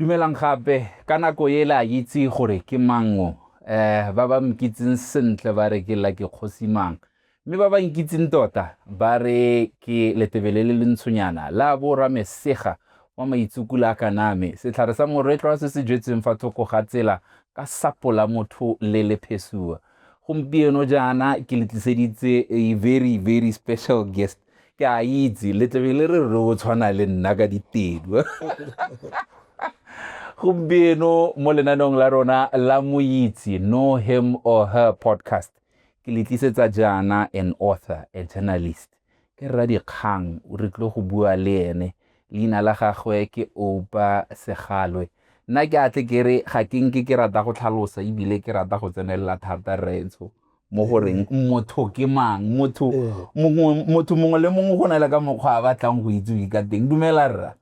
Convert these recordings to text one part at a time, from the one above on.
Dumelang gape, ka nako e le a itse gore ke mang o? Eh, ba ba nkitseng sentle ba re ke Lucky Kgosimang. Mme ba ba nkitseng tota ba re ke letebele le le ntshonyana la bo Ramesega wa maitsukula a kaname, setlhare sa moretlwa se se jetsweng fa thoko ga tsela ka sapo la motho le le phesua. Gompieno jaana ke le tliseditse a very very special guest. ke a itse letlebe le re re o tshwana le nna ka ditedu gompieno mo lenaneong la rona la moitse know him or her podcast ke le tlisetsa jaana an author a journalist ke rra dikgang o re tlo go bua le ene leina la gagwe ke opa segalwe nna ke atle ke re ga ke nke ke rata go tlhalosa ebile ke rata go tsenelela thata rraetsho mo go reng mm. motho ke mang motho motho mongwe le mongwe go na le ka mokgwa a batlang go itsewe ka teng dumela rra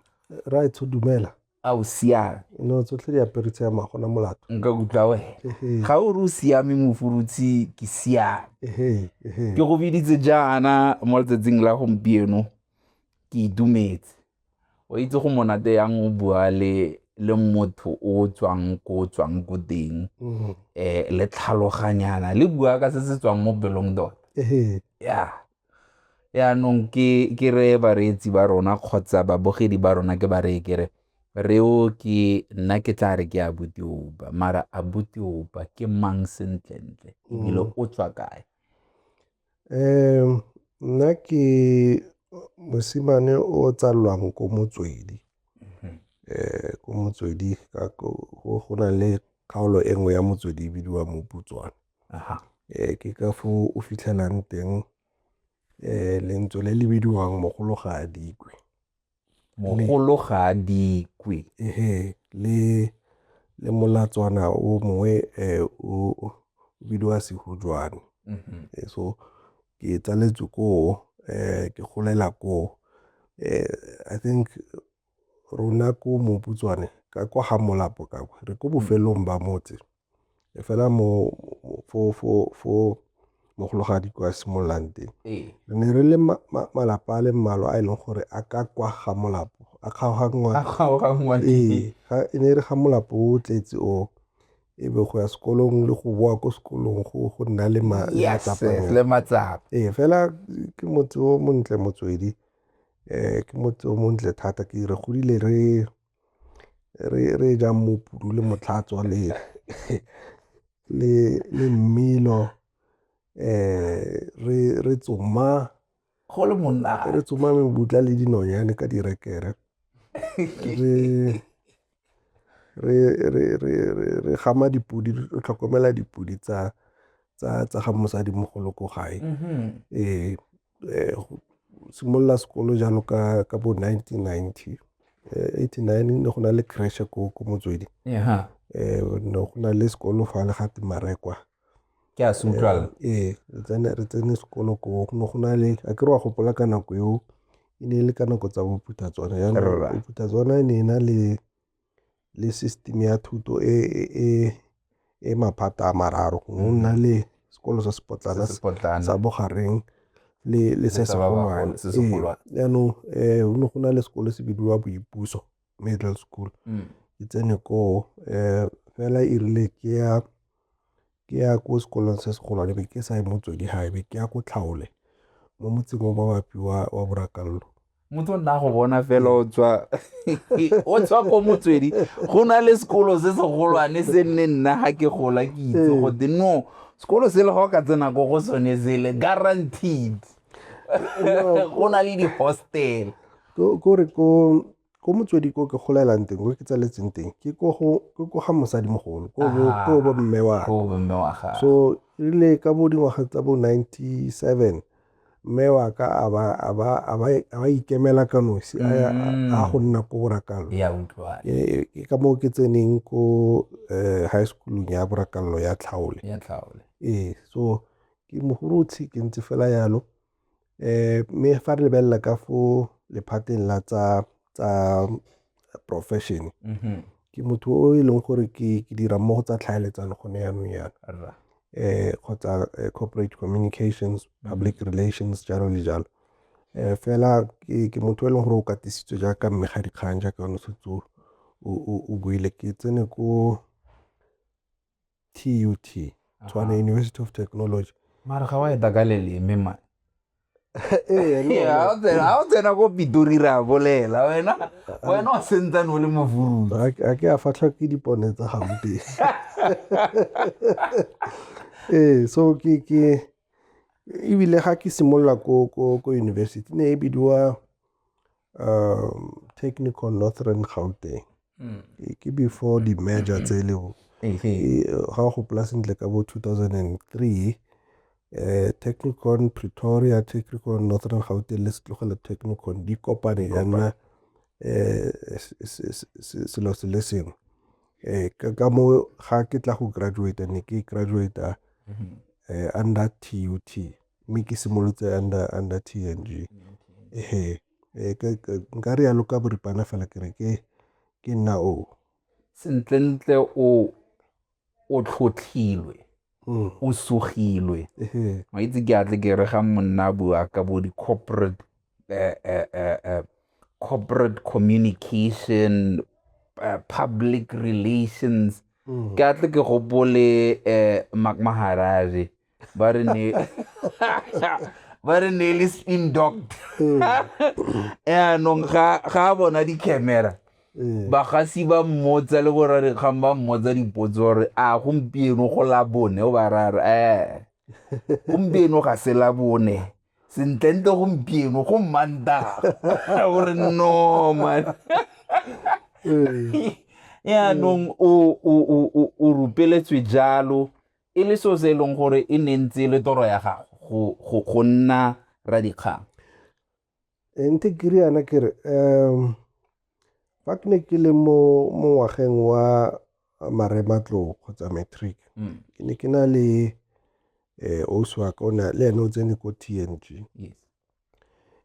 raetsho dumela a o siame no tsotlhe di aperitse ya magona molato nka kutlwa wena ga o re o siame mofurutshi ke siame ke go biditse jaana mo letsatsing la gompieno ke itumetse O itse go monate yang o bua le le motho o tswang ko tswang ko teng um le tlhaloganyana le bua ka se se tswang mo pelong tota ya yaanong ke ke re bareetsi ba rona kgotsa babogedi ba rona ke ba reye kere reo ke nna ke tla re ke a butiopa mara a butiopa ke mang sentlentle ebile mm. o tswa kae Nna ke mosimane o o tsalwang ko motswedi. Ko motswedi go na le kgaolo e nngwe ya motswedi e bidiwa moputswane. Ke ka foo o fitlhelang teng lentswe le le bidiwang mogolo ga a dikwe. mogolo ga a dikwe le le molatswana o mongwe eh, o bidiwa sehujwane mm-hmm. eh, so ke tsaletswe koo eh, ke golela koo i think rona ko moputswane ka kwa ga molapo ka re ko bofelong ba motse E fela mo fo fo fo mogologadi kwa simololang teng re ne re le malapa a le mmalwa a e leng gore a ka kwa ga molapo a kgaoganngwa ee e ne e re ga molapo o tletse o e be go ya sekolong le go boa ko sekolong go go nna le matsapa ee fela ke motse o montle motswedi um ke motse o montle thata ke re godile re re e jang mopudu le motlhatswa le mmino re tsoma. Go le monate. Re tsoma mebutla le dinonyane ka direkere. Re gama dipodi, re tlhokomela dipodi tsa ga mosadimogolo ko gae, ee. um simolola sekolo jalo ka ka bo nineteen ninety um eighty nine ne go na le crash ko ko motswedi um ne go na le sekolo fa le gate marekwa ke a se utlwala ee re tsene sekolo ko go ne go na le a ke re wa gopola ka nako eo e ne e le ka nako tsa bophuthatswana jaanong bophuthatswana e ne e na le le system ya thuto e e maphata a mararo go nna le sekolo sa sepotlana sa bogareng le le se segolwane jaanong um go ne go na le sekolo se bidiwa boipuso middle school mm. ke tsene koo um fela e rile ke ya ke ya ko sekolong se se golwane be ke sa ye motswedi gae be ke ya ko tlhaole mo motseng o mabapi wa wa borakallo motho nna go bona fela o tswa o tswa ko motswedi go na le sekolo se se golwane se nne nna ga ke gola ke itse ee. gote no sekolo se le ga o ka tsena ko go sone sele guaranteed go na le di-hostel kore ko ko motswedi ko ke golelang teng ko ke tsaletseng teng ke ko ga mosadimogolo ko bo mme wa so erile ka bo dingwaga tsa bo ninety seven mme wa ka a ba ikemela ka nosi a mm. go nna ko borakalo ke ka moo ke tseneng ko eh, high schoolong ya borakallo ya tlhaole ee so ke mogorotshi ke ntse fela yalo Mme fa re lebelela ka fo lephateng la tsa profession, ke motho o e leng gore ke dira mo go tsa tlhaeletsano gone yanong yana kgotsa corporate communications, public relations, jalo le jalo. Fela ke motho e leng gore o katisitswe jaaka mme ga dikgang jaaka o ne o setse o buile, ke tsene ko. tut tswana Aha. university of technology mara ga wa e taka leleme man Ee, le Ee, ha o tsena- ha o tsena ko pitori re a bolela wena wena o sentsane o le mofurutse gona. A- a ke a fatlha ke dipone tsa gampe ee so ke ke ebile ga ke simolola ko ko ko university ne e bidiwa um technical northern gauteng mm. ke before di-merger tse le go ga go gopola sentle ka bo 2003 eh technicon pretoria technicon northern gauteng le setlogele technicon di kopane ya nna eh selo se le sengwe eh ka mo ga ke tla go graduate ne ke graduate mm-hmm. eh under TUT mme ke simolotse under, under T_N_G. Ee, nka re yalo ka boripana fela ke re ke ke nna o sentlentle o o tlhotlhilwe mm. o sogilwe wa itse ke atle ke re ga monna bua ka bo di-corporate eh, eh, eh, eh corporate communication uh, public relations mm. ke atle ke gopole eh, mac maharare ba re ne ba re ne le spin doct yaanong ga a bona di-camera eh. bagasi ba mmotsa le gore re kgang ba mmotsa dipotso gore a gompieno go la bone o ba rare ee gompieno ga se la bone sentlentle gompieno go mmanta gore no man eh. yaanong o rupeletswe jalo e le seo se e leng gore e ne ntse e le toro ya gago go nna radikgang eh, ntse ke re yana ke re um fa ke ne ke le mo ngwageng wa marematlo kgotsa matric mm. ke ne ke na le eh osi wa ka ona le ene o tsene ko TNG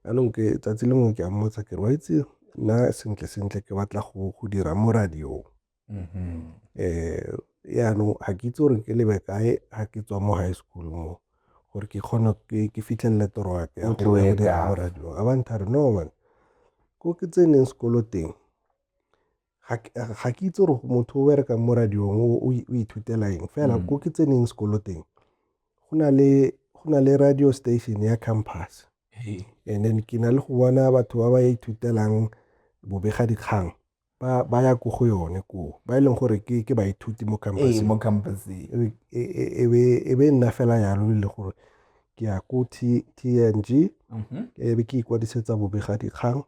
anong ke tsatsi lengwe ke a mmotsa ke re wa itse nna sentle sentle ke batla go go dira mo radio Mm-hmm. Eh, yaanong ga ke itse gore ke lebe kae ga ke tswa mo high school mo gore ke kgone ke fitlhelele toro ya ke radio a bantha re no man ko ke tseneng sekolo teng ga ke itse gore motho o berekang mo radiong o ithutela eng fela mm. ko ke tseneng sekolo teng go na le radio station ya campus and then ke na le go bona batho ba ba ithutelang bobega dikgang ba ba ya ko go yone koo ba e leng gore ke ke baithuti mo ee mo campuseng e, e, e, e be e be nna fela yalo le gore ke ya ko TNG mhm. e be ke ikwadisetsa bobegadikgang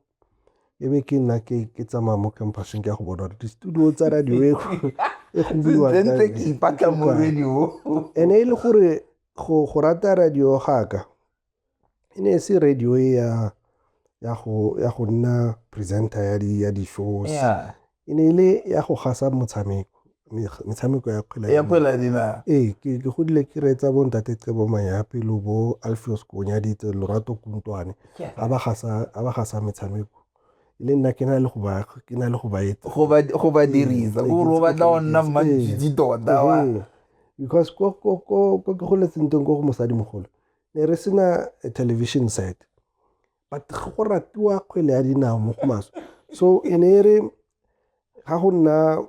e be ke nna ke ke tsamaya mo campuseng ke ya go bona di-studio tsa radio e e gobiwantse ke ipatla mo radio ene e le gore go go rata radio gaka e ne e se radio e ya ya go ya go nna presenter ya di ya di shows Yeah. e ne e le ya go gasa motshameko me- metshameko ya kgwele ya ya dinao. kgwele ya dinao ee ke ke godile ke reetsa bo ntate cebo mayapi lo bo alfios konyaditse lorato kuntwane Ke- a ba gasa a ba gasa metshameko e le nna ke na le go ba ke na le go ba etsa go ba go ba dirisa Ee, gore o ke- batla go nna ke- mmantšitši tota wa Ee, because ko ko ko ko ke goletseng teng ko go mosadimogolo ne re sena a television set but go ratiwa kgwele ya dinao mo go maswe so e ne e re ga go nna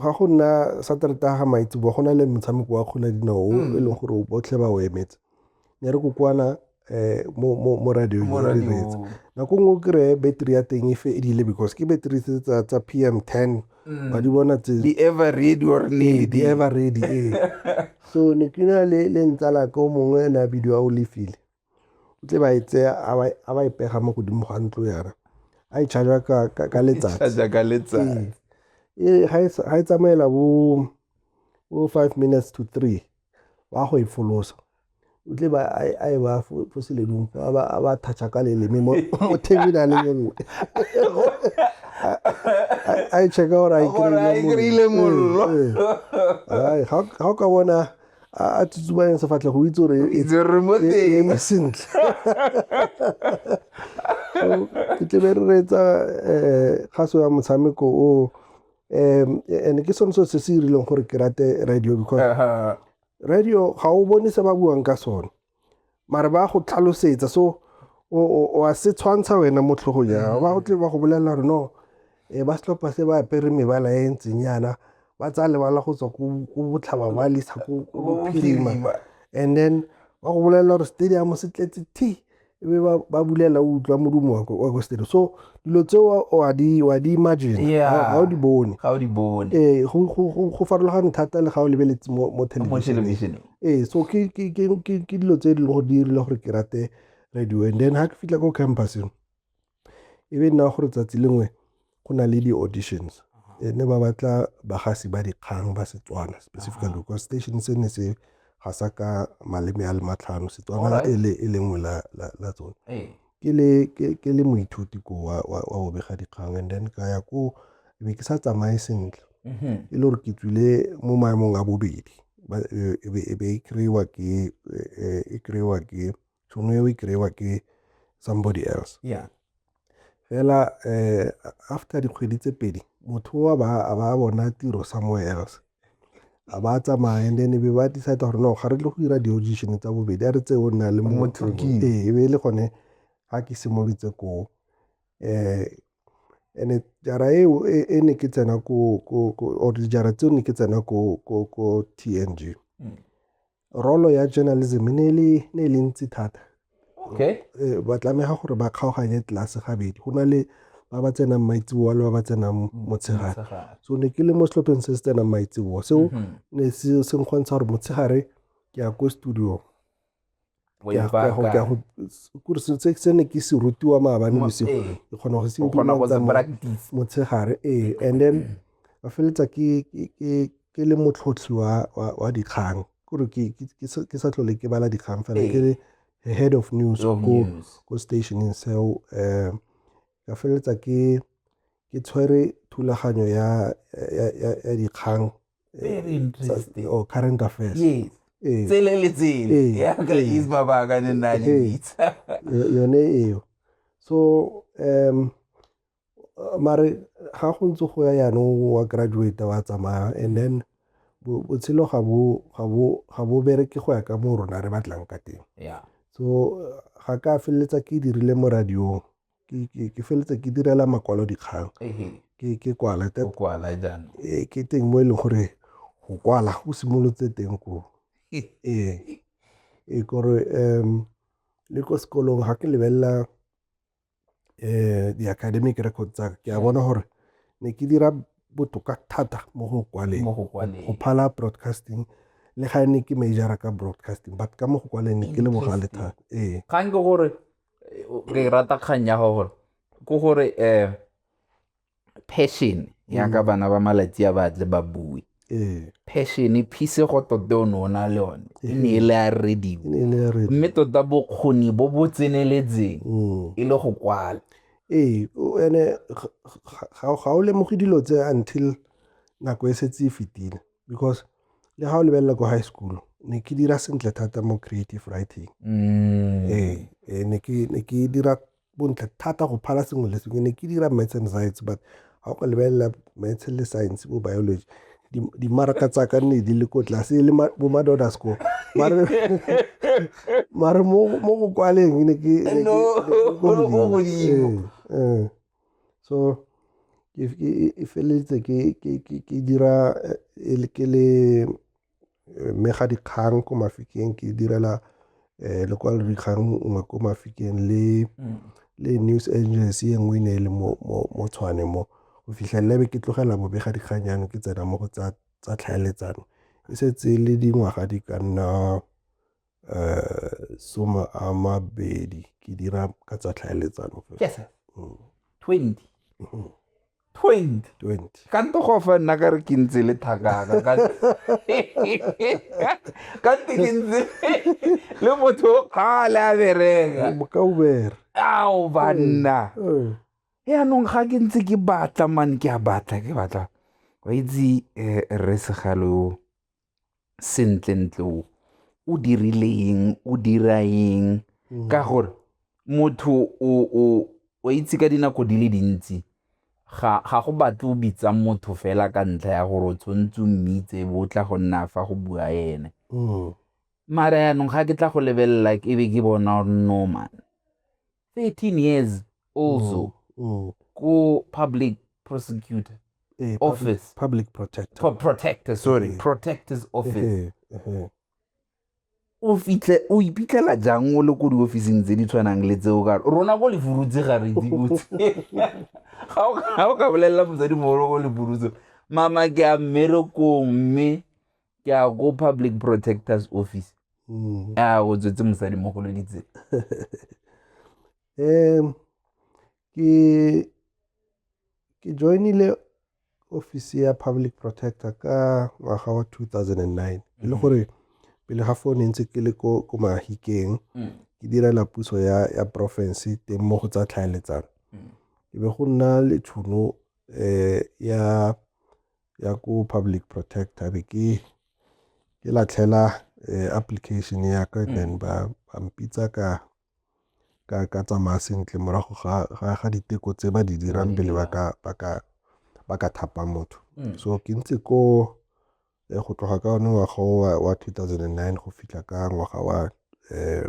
ga go nna saterete ga maitsebo go na le motshameko wa kgwele ya dinao o hmm. e leng gore botlhe ba o emetse ne re kokoana um mo radio re diretse nako nngwe o kry-e battery ya teng e fe e dile because ke battery tsa p m ten ba di bona tse di ever ready or lady di ever ready ee so ne ke na le le ntsala ka o mongwe ene a bidiwa o lefile o tle ba e tseya a ba e pega mo godimo ga ntlo yana a e charge ka ka letsatsi charge ka letsatsi ee ga e tsamaela bo 5 minutes to 3 wa go e folosa o tle ba a e ba fo seledung fa ba ba thatcha ka leleme mo mo table a le nngwe a e checka gore a e kry-ile mollo eh, eh, eh. ga o ka bona a tsutsumayeng sefatlhe go itse gore e, e, e eme sentle ke tlebe re reetsa um kgaso ya motshameko o um and ke sone se se se irileng gore ke rate radio because uh-huh. radio ga o bone se ba buang ka sone mare ba go tlhalosetsa so wa se tshwantsha wena mo tlhogong jang ba go tle ba go bolelela gore no um ba setlhopha se ba apere mebala e ntseng yana ba tsaya lebala go tswa ko botlhaba ba lisa ko bophirima and then ba go bolelela gore stadium se tletse t e be ba, ba bulela o utlwa modumo wa ko- wa ko stereo so dilo tseo wa di wa di imagine Yeah. ga ga o di bone ga o di bone ee go- go go- go farologane thata le ga o lebeletse mo mo mo thelebišeneng thelebišeneng ee so ke ke- ke- ke- ke dilo tse e leng gore di dirile gore ke rate radio and then ga ke fitlha ko campuseng e be nna gore tsatsi lengwe go na le di-auditions e ne ba batla bagasi ba dikgang ba setswana specifically because station se ne se ga sa ka maleme a le matlhano setswana e le e lengwe la, la, la tsone ee. ke le ke, ke le moithuti ko wa, wa, wa go bega dikgang and then ka ya ko e be ke sa tsamaye sentle mhm. e le gore ke tswile mo maemong a bobedi e be e kry-wa ke e kry-wa ke to no we kry-wa ke somebody else yeah fela eh after dikgwedi tse pedi motho wa ba a ba bona tiro somewhere else a ba tsamaya and then be ba decide gore no ga re tle go dira di-audition tsa bobedi a re tse o nna le motho ee e be e le gone ga ke simolotse koo um and jara eo e, e ne ke tsena ko or dijara tseo ne ke tsena ko tng mm. rolo ya journalism ne e le ne e le ntsi thata okay eh, ba tlameha gore ba kgaoganye tlase gabedi go na le ba ba tsenang maitseboa le ba ba tsenang motshegare so ne ke le mo setlhopheng se se tsenang maitseboa seo mhm. ne se nkgontsha gore motshegare ke ya ko studio Wa Ke a- ke a go- ke a ipaka. go- kore se- se se ne ke se rutiwa maabane Mo- bosigo ee. ke kgona go se O kgona go se implementa mo- practice. motshegare ee and then ka feletsa ke ke- ke- ke le motlhotlhi wa wa- wa dikgang kore ke ke- ke sa- ke sa tlhole ke bala dikgang fela Ee. ke le head of news Yo, ko news. ko stationeng seo um ka feleletsa ke ke tshwere thulaganyo ya ya- ya- ya dikgang very eh, interesting or oh, current affairs yes eh. tsele le tsele eh. ya ka is baba ka ne nna le bitsa yone eo so um mare ga go ntse go ya yanong wa graduate wa tsamaya and then botshelo ga bo ga bo ga bo bereke go ya ka mo rona re batlang ka teng yeah so ga ka feleletsa ke dirile mo radiong ke feletse ke direla makwalodikgang ke kwala ee ke teng mo e leng gore go kwala go simolotse teng ko ee e kore um le ko sekolong ga ke lebelela um di-academic record tsa ke a bona gore ne ke dira botoka thata mo go kwaleng go phala broadcasting le ga ne ke majora ka broadcasting but ka mo go kwaleng ne ke le bogale thata ee kgang ke gore ke rata kgang ya gore ko gore um passion yaka mm. bana ba malatsi a batle ba bue ee. passion phisego tote o ne o na le one e ne e le a rediwe mme tota bokgoni bo bo tseneletseng mm. e le go kwala ee ene ga o lemoge dilo tse until nako e setse e fetile because le ga o lebelela ko high school ne ke dira sentle thata mo creative writing mm. ee eh, ne ke dira bontle thata go phala sengwe le sengwe ne ke dira maths and science but ga o ka lebelela maths le science bo biology dimaraka tsa ka nne di le ko tlase e le bo madoda score mare mo go kwaleng ne ke So e feleletse ke dira ke le mega dikgang ko Mafikeng, ke direla lekwalo dikgang nngwe ko Mafikeng le le news agency e nngwe e ne e le mo Tshwane mo. Go fitlhelela be ke tlogela bobega dikgang jaanong ke tsena mo go tsa tlhaeletsano. E setse e le dingwaga di ka nna eh, some a mabedi ke dira ka tsa tlhaeletsano yes mm. twenty mm-hmm. twenty twenty ka nto go fa nna ka re ke ntse le thakaka ka nte ke ntse le motho ga le a bereka ka ubere ao banna mm. yaanong ga ke ntse ke batla mane ke a batla ke batla wa itse um eh, rre segalo sentle ntle o o dirile eng o dira eng mm. ka gore motho o itse ka dinako di le dintsi ga go batle o bitsa motho fela ka ntlha ya gore o tshwanetse o mmitse bo tla go nna fa go bua ene mm. mara yanong ga ke tla go lebelela ke be ke bona gore no man 13 years also mm, mm. ku public prosecutor eh, office public protector Pro protector sorry eh. protector's office eh, eh, o fitlhe o iphitlhela jang o le ko diofising tse di tshwanang le tseo ka rona ko lefurutse ga re dibotse ga o ka bolelela mosadimogolo ko lefurutse mama ke a mmerekong mme ke a go public protectors office mm. a go tswetse mosadi mo go loditseng um ke ke joinile office ya public protector ka ngwaga wa 2009 e le mm. gore pele ga fone ntse ke le ko ko mahikeng mm. ke direla puso ya ya province teng mo go tsa tlhaeletsano ke be go nna le tshono eh ya ya ko public protector be ke ke latlhela eh, application ya ka mm. then ba ba mpitsa ka ka ka tsamaya sentle morago ga ga ga diteko tse ba di dirang pele ba ka ba ka ba ka thapa motho mm. so ke ntse ko eh, go tloga ka one ngwaga wa 2009 go fitlha ka ngwaga wa um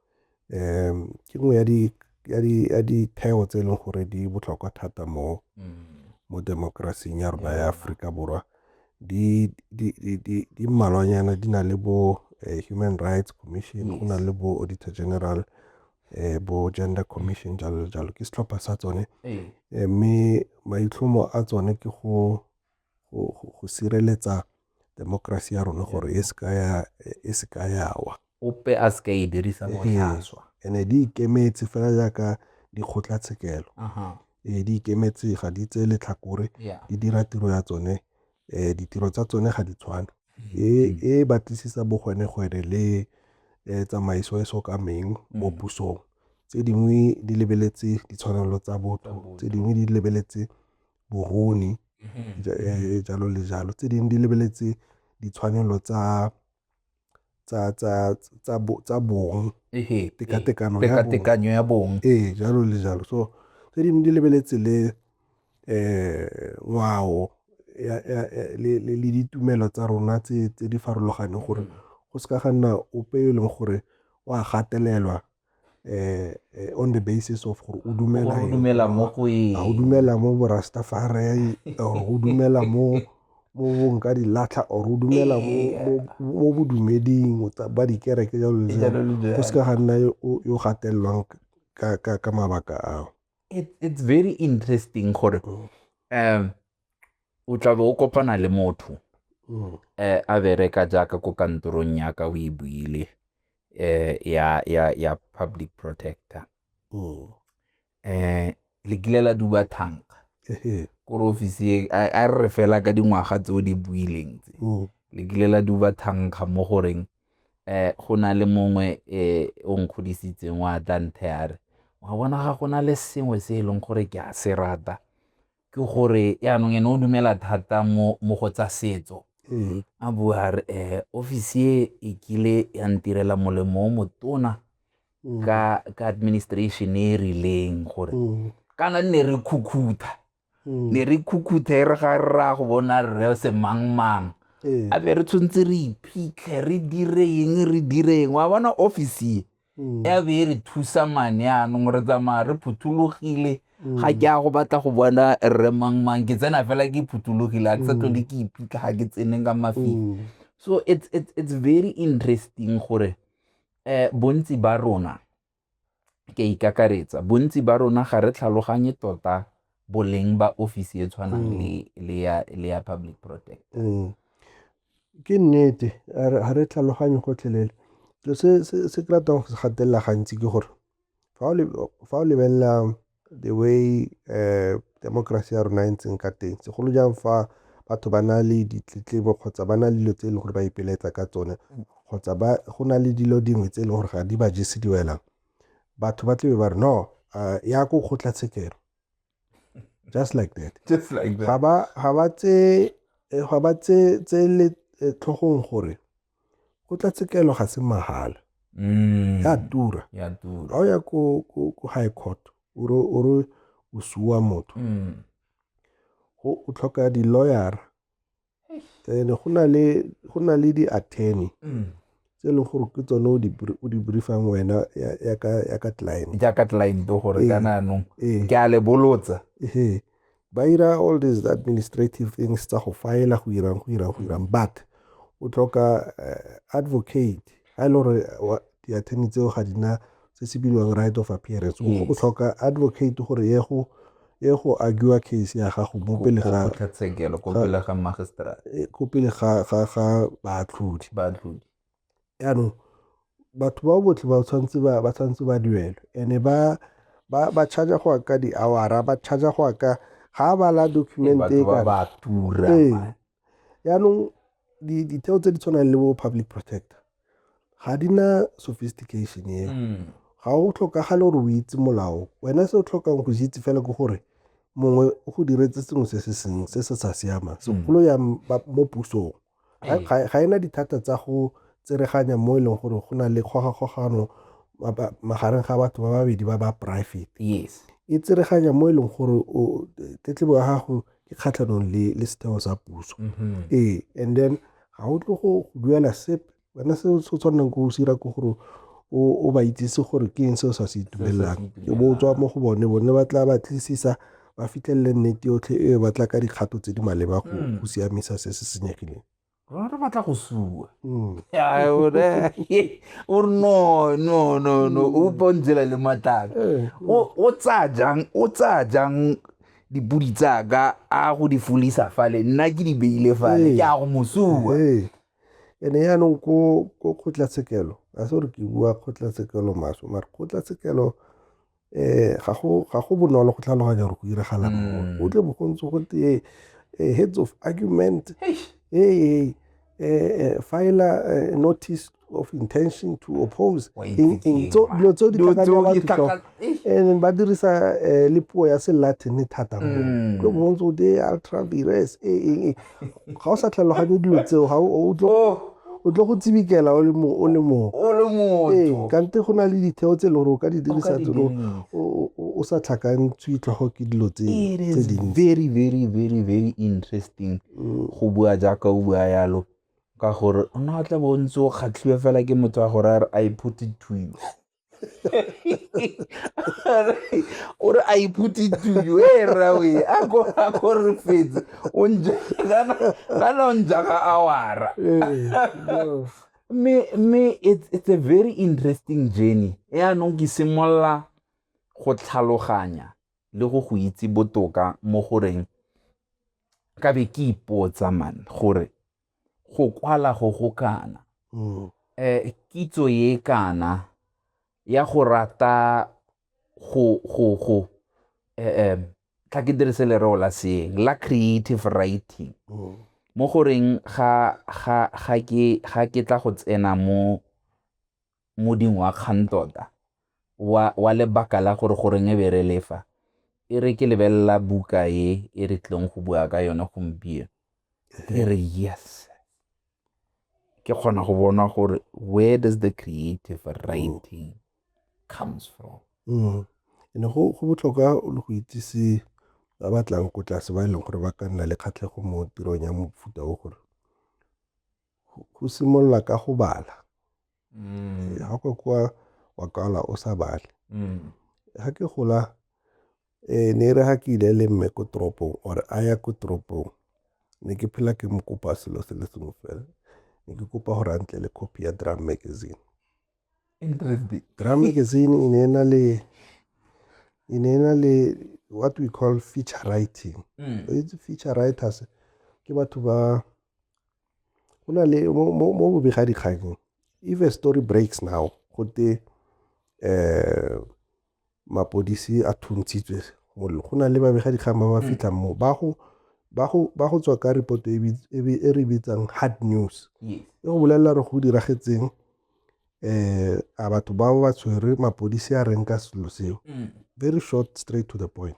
um ke nngwe ya di ya ditheo tse e leng gore di botlhokwa thata mo mo demokrasing ya rona ya Aforika Borwa di di di di di mmalwanyana di na le bo eh, Human Rights Commission go na le bo Auditor General eh, bo Gender Commission jalo le jalo ke setlhopha sa tsone eh, mme maitlhomo a tsone ke go go sireletsa temokerasi ya rona gore e se ka e yawa ope a se ka e dirisa botlhaswa ene di ikemetse fela jaaka dikgotlatshekelo ee di ikemetse ga di tse letlhakore di dira tiro ya tsone um ditiro tsa tsone ga di tshwane mm-hmm. e, e batlisisa bogwenegwene le um tsamaiso e so kameng mm-hmm. mo pusong tse dingwe di lebeletse ditshwanelo tsa botho tse dingwe di lebeletse boruni, e jalo le jalo. Tse dingwe di lebeletse ditshwanelo tsa bong, tekatekano ya bong. Ee, jalo le jalo. So, tse dingwe di lebeletse le ngwao le ditumelo tsa rona tse di farologaneng gore go seka ga nna ope yo e leng gore o a gatelelwa eh, on the basis of gore o dumela o dumela mo go eng o dumela mo borastafari or o dumela mo mo bong ka dilatlha or o dumela mo bodumeding ba dikereke jalo le go se ka ga nna yo gatelelwang ka mabaka ao it's very interesting gore mm. um o tla be o kopana le motho mm. eh, a bereka jaaka ko kantorong yaka o e buile eh, ya, ya, ya public protector mm. eh, le kile la duba thanka kore ofisi a re re fela ka dingwaga tse o di buileng tse mm. le kile la duba thankga mo goreng eh go na le mongwe eh o nkgodisitseng wa tla ntheare wa bona ga go na le sengwe se e leng gore ke a se rata ke gore yaanong ene o dumela thata mo mo go tsa setso a bua a re um office e e kile ya ntirela molemo o motona ka ka administration e e rileng gore kana nne re khukhutha ne re khukhutha e re ga re raya go bona rre se mangmang a be re tshwanetse re iphitlhe re dire eng re dire eng wa bona office e ya be e re thusa mane anong re tsamaya re phuthologile ga ke ya go batla go bona rre mang mang ke tsena fela ke phuthologile ga ke sa tlhole ke iphitlha ga ke tsene ka mafika so it's, it's, it's very interesting gore eh bontsi ba rona ke ikakaretsa bontsi ba rona ga re tlhaloganye tota boleng ba ofisi e tshwanang mm. le ya public protect mm. Ke nnete, ga re tlhaloganye gotlhelele. Selo se se ke ratang go se gatelela gantsi ke gore fa o lebelela the way democracy ya rona e ntseng ka teng, segolo jang fa batho ba na le ditletlebo kgotsa ba na le dilo tse e leng gore ba ipelaetsa ka tsone kgotsa go na le dilo dingwe tse e leng gore ga di ba jese diwelang, batho ba tlebe ba re no ya ko kgotlatshekelo. just like that just like that ga ba ga ba tse eh, ga ba tse tse le eh, tlhogong gore go tla tsekelo ga se mahala mm. ya tura ya tura ga o ya ko ko high court o re o re o suwa motho mm. go o tlhoka di lawyer then go na le go na le di attorney mm. tse leng gore ke tsone o di briefang wena ya ka client ya ka client gore ka nanong ke a le bolotsa ba ira all these administrative things tsa go file go irang go irang go irang but o tlhoka eh, advocate ga e le gore di-attorney tseo ga dina se se bilwang right of appearance o mm. tlhoka advocate gore ye go ye go argua case ya gago mo pele ga kgotlatshekelo ko pele ga magistrate eh, ko pele ga ga ga baatlhodi baatlhodi yaanong batho ba botlhe ba tshwanetse ba ba tshwanetse ba duelwe ene ba ba ba charge go ka di-awara ba charge go ka ga ba la document e ka ba tura ee. Jaanong ditheo tse di tshwanang le bo public protector ga di na sophistication eo mm. ga o tlhokagale gore o itse molao wena se o tlhokang go itse fela ke gore mongwe o go diretse sengwe se se seng se se sa siamang mm. segolo ya mo pusong ga e na dithata tsa go tsereganya mo e leng gore go na le kgogakgogano magareng ga batho ba babedi ba ba private yes e tsereganya mo e leng gore tetlebo ya gago ke kgatlhanong le le setheo sa puso mm-hmm. ee and then ga o tlo go duela sepe wena se o tshwaneleng ko o sira ke gore o ba itsise gore ke eng se o sa se itumelelang ke bo tswa mo go bone bone ba tla ba tlisisa ba fitlhelele nnete yotlhe e ba tla ka dikgato tse di maleba go mm. siamisa se se senyegileng rona re batla go sua mm. o re no no no no o mm. pontsela le mataka eh, mm. o tsaya jang o tsaya jang dipodi tsaka a go di folisa fale nna ke di beile fale eh. ke a go mosua eh. ene yaanong ko kgotlatshekelo a se gore ke bua kgotlatshekelo maso mare kgotlatshekelo um ga go bonolo go tlhaloganya gore go iragala mm. go tle bo go ntse go tee eh, heads of argument ee eh, file a notice of intention to oppose dilo tseo di tlakanya and ba dirisa le puo ya se latin thata mm. go ntse go tee ultra virus ee ga o sa tlhaloganye dilo tseo ga o tlo oh. o tlo go tsibikela o le mo o le mo o le mo ee kante go na le ditheo tse e le gore o ka di dirisa tsone o sa tlhakantswe tlhogo ke dilo tse tse dingwe very very very very interesting mm. go bua jaaka o bua yalo ka gore o na o tla bo o ntse o kgatlhiwe fela ke motho wa gore a re i put it to you o re a iphuti tuyo e rawe a ko a ko re fetse o nja kana kana o nja ka awara me me it's it's a very interesting journey e anong ke simolla go tlhaloganya le go go itse botoka mo goreng ka be ke ipotsa man gore go kwala go go kana um kitso ye kana ya go rata go go go um tla ke dirise lereo la seeng la creative writing mm. mo goreng ga ga ga ke ga ke tla go tsena mo Moding wa kgang tota, wa, wa lebaka la gore goreng e be re lefa. E re ke lebelela buka e e re tlileng go bua ka yone gompieno. Ke re yes. Ke kgona go bona gore where does the creative writing comes from. Mm. Ene go, go botlhokwa le go itsise ba batlang ko tlase ba e leng gore ba ka nna le kgatlhego mo tirong ya mofuta o gore go simolola ka go bala mm. ga kwa kwa wa kwala o sa bale mm. ga ke gola um ne re ga ke ile le mme ko toropong or a ya ko toropong ne ke phela ke mo kopa selo se le sengwe fela ne ke kopa gore a ntle le copy ya drum magazine Drum magazine e ne e na le e ne e na le what we call feature writing mm. itse feature writers ke batho ba go na le mo bobega dikganyeng if a story breaks now gote um eh, mapodisi a thuntshitswe go na le babegadikgang ba ba mm. fitlhang moo ba go ba go ba go tswa ka report e, e, e re bitsang hard news e go bolelela re go diragetseng eh a batho ba ba tshwere mapodisi a reng ka selo seo mm. very short straight to the point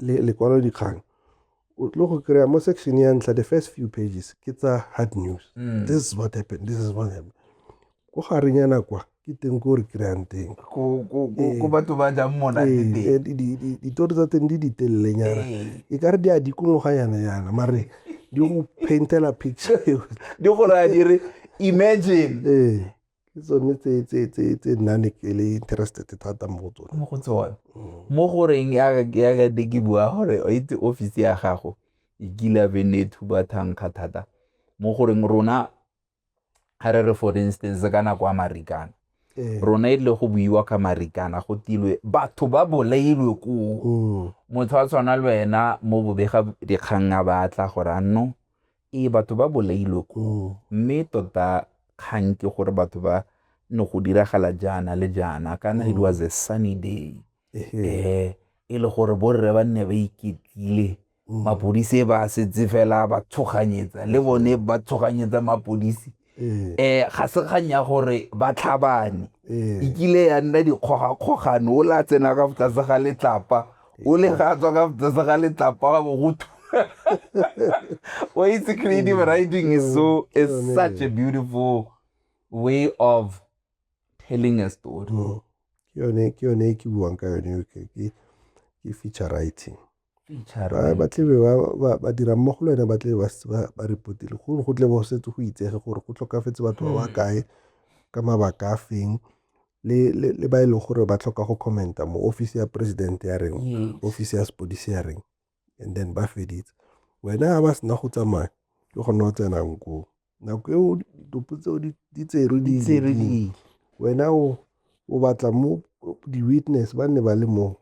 le lekwalodikgang o tlo go kry-a mo section ya ntlha the first few pages ke tsa hard news mm. this is what happened this is what happened ko gareng ya nakwa ke teng ko re kry-ang teng ko eh, batho ba jang mona eh, eh, ditori tsa teng di ditelelenyana e ka re di a dikongoganyana yana mare di go paintela picture di go raya di re imagine Ke tsone tse nna ne ke le interested thata mo go tsone. Mo go tsone, mo goreng ya ka ne ke bua gore o itse office ya gago e kile be ne e thuba thankga thata mo goreng rona ga re re for instance ka nako ya Marikana, ee. rona e tlile go buiwa ka Marikana go tilwe batho ba bolailwe koo. Mm. Motho a tshwana le wena mo bobega dikgang a batla gore anno Ee, batho ba bolailwe koo, mme tota kgang ke gore batho ba ne go diragala jaana le jaana kana it was a sunny day eh e le gore borre ba nne ba iketlile mapodisi ba setse fela ba tshoganyetsa le bone ba tshoganyetsa mapodisi um ga se kgang ya gore ba tlhabane e kile ya nna dikgogakgogane o la tsena ka botlase ga letlapa o le ga tswa ka botlase ga letlapa wa bogotu o itse creative writing is so is such a beautiful way of telling a story ke yone ke buang ka yone ke feature writing Ba ba tlebe ba ba ba dira mo go lone ba tlebe ba s- ba ba repotile go go tle bo setse go itsege gore go tlhokafetse batho ba ba kae ka mabaka a feng le le le ba e leng gore ba tlhoka go commenta mo office ya president ya reng Yes. office ya sepodisi ya reng and then ba feditse wena ga ba sena go tsamaya ke gone o tsenang koo nako eo ditopo tseo di- di tserwe di le Tserwe dingwe. di- wena o o batla mo di-witness ba nne ba le moo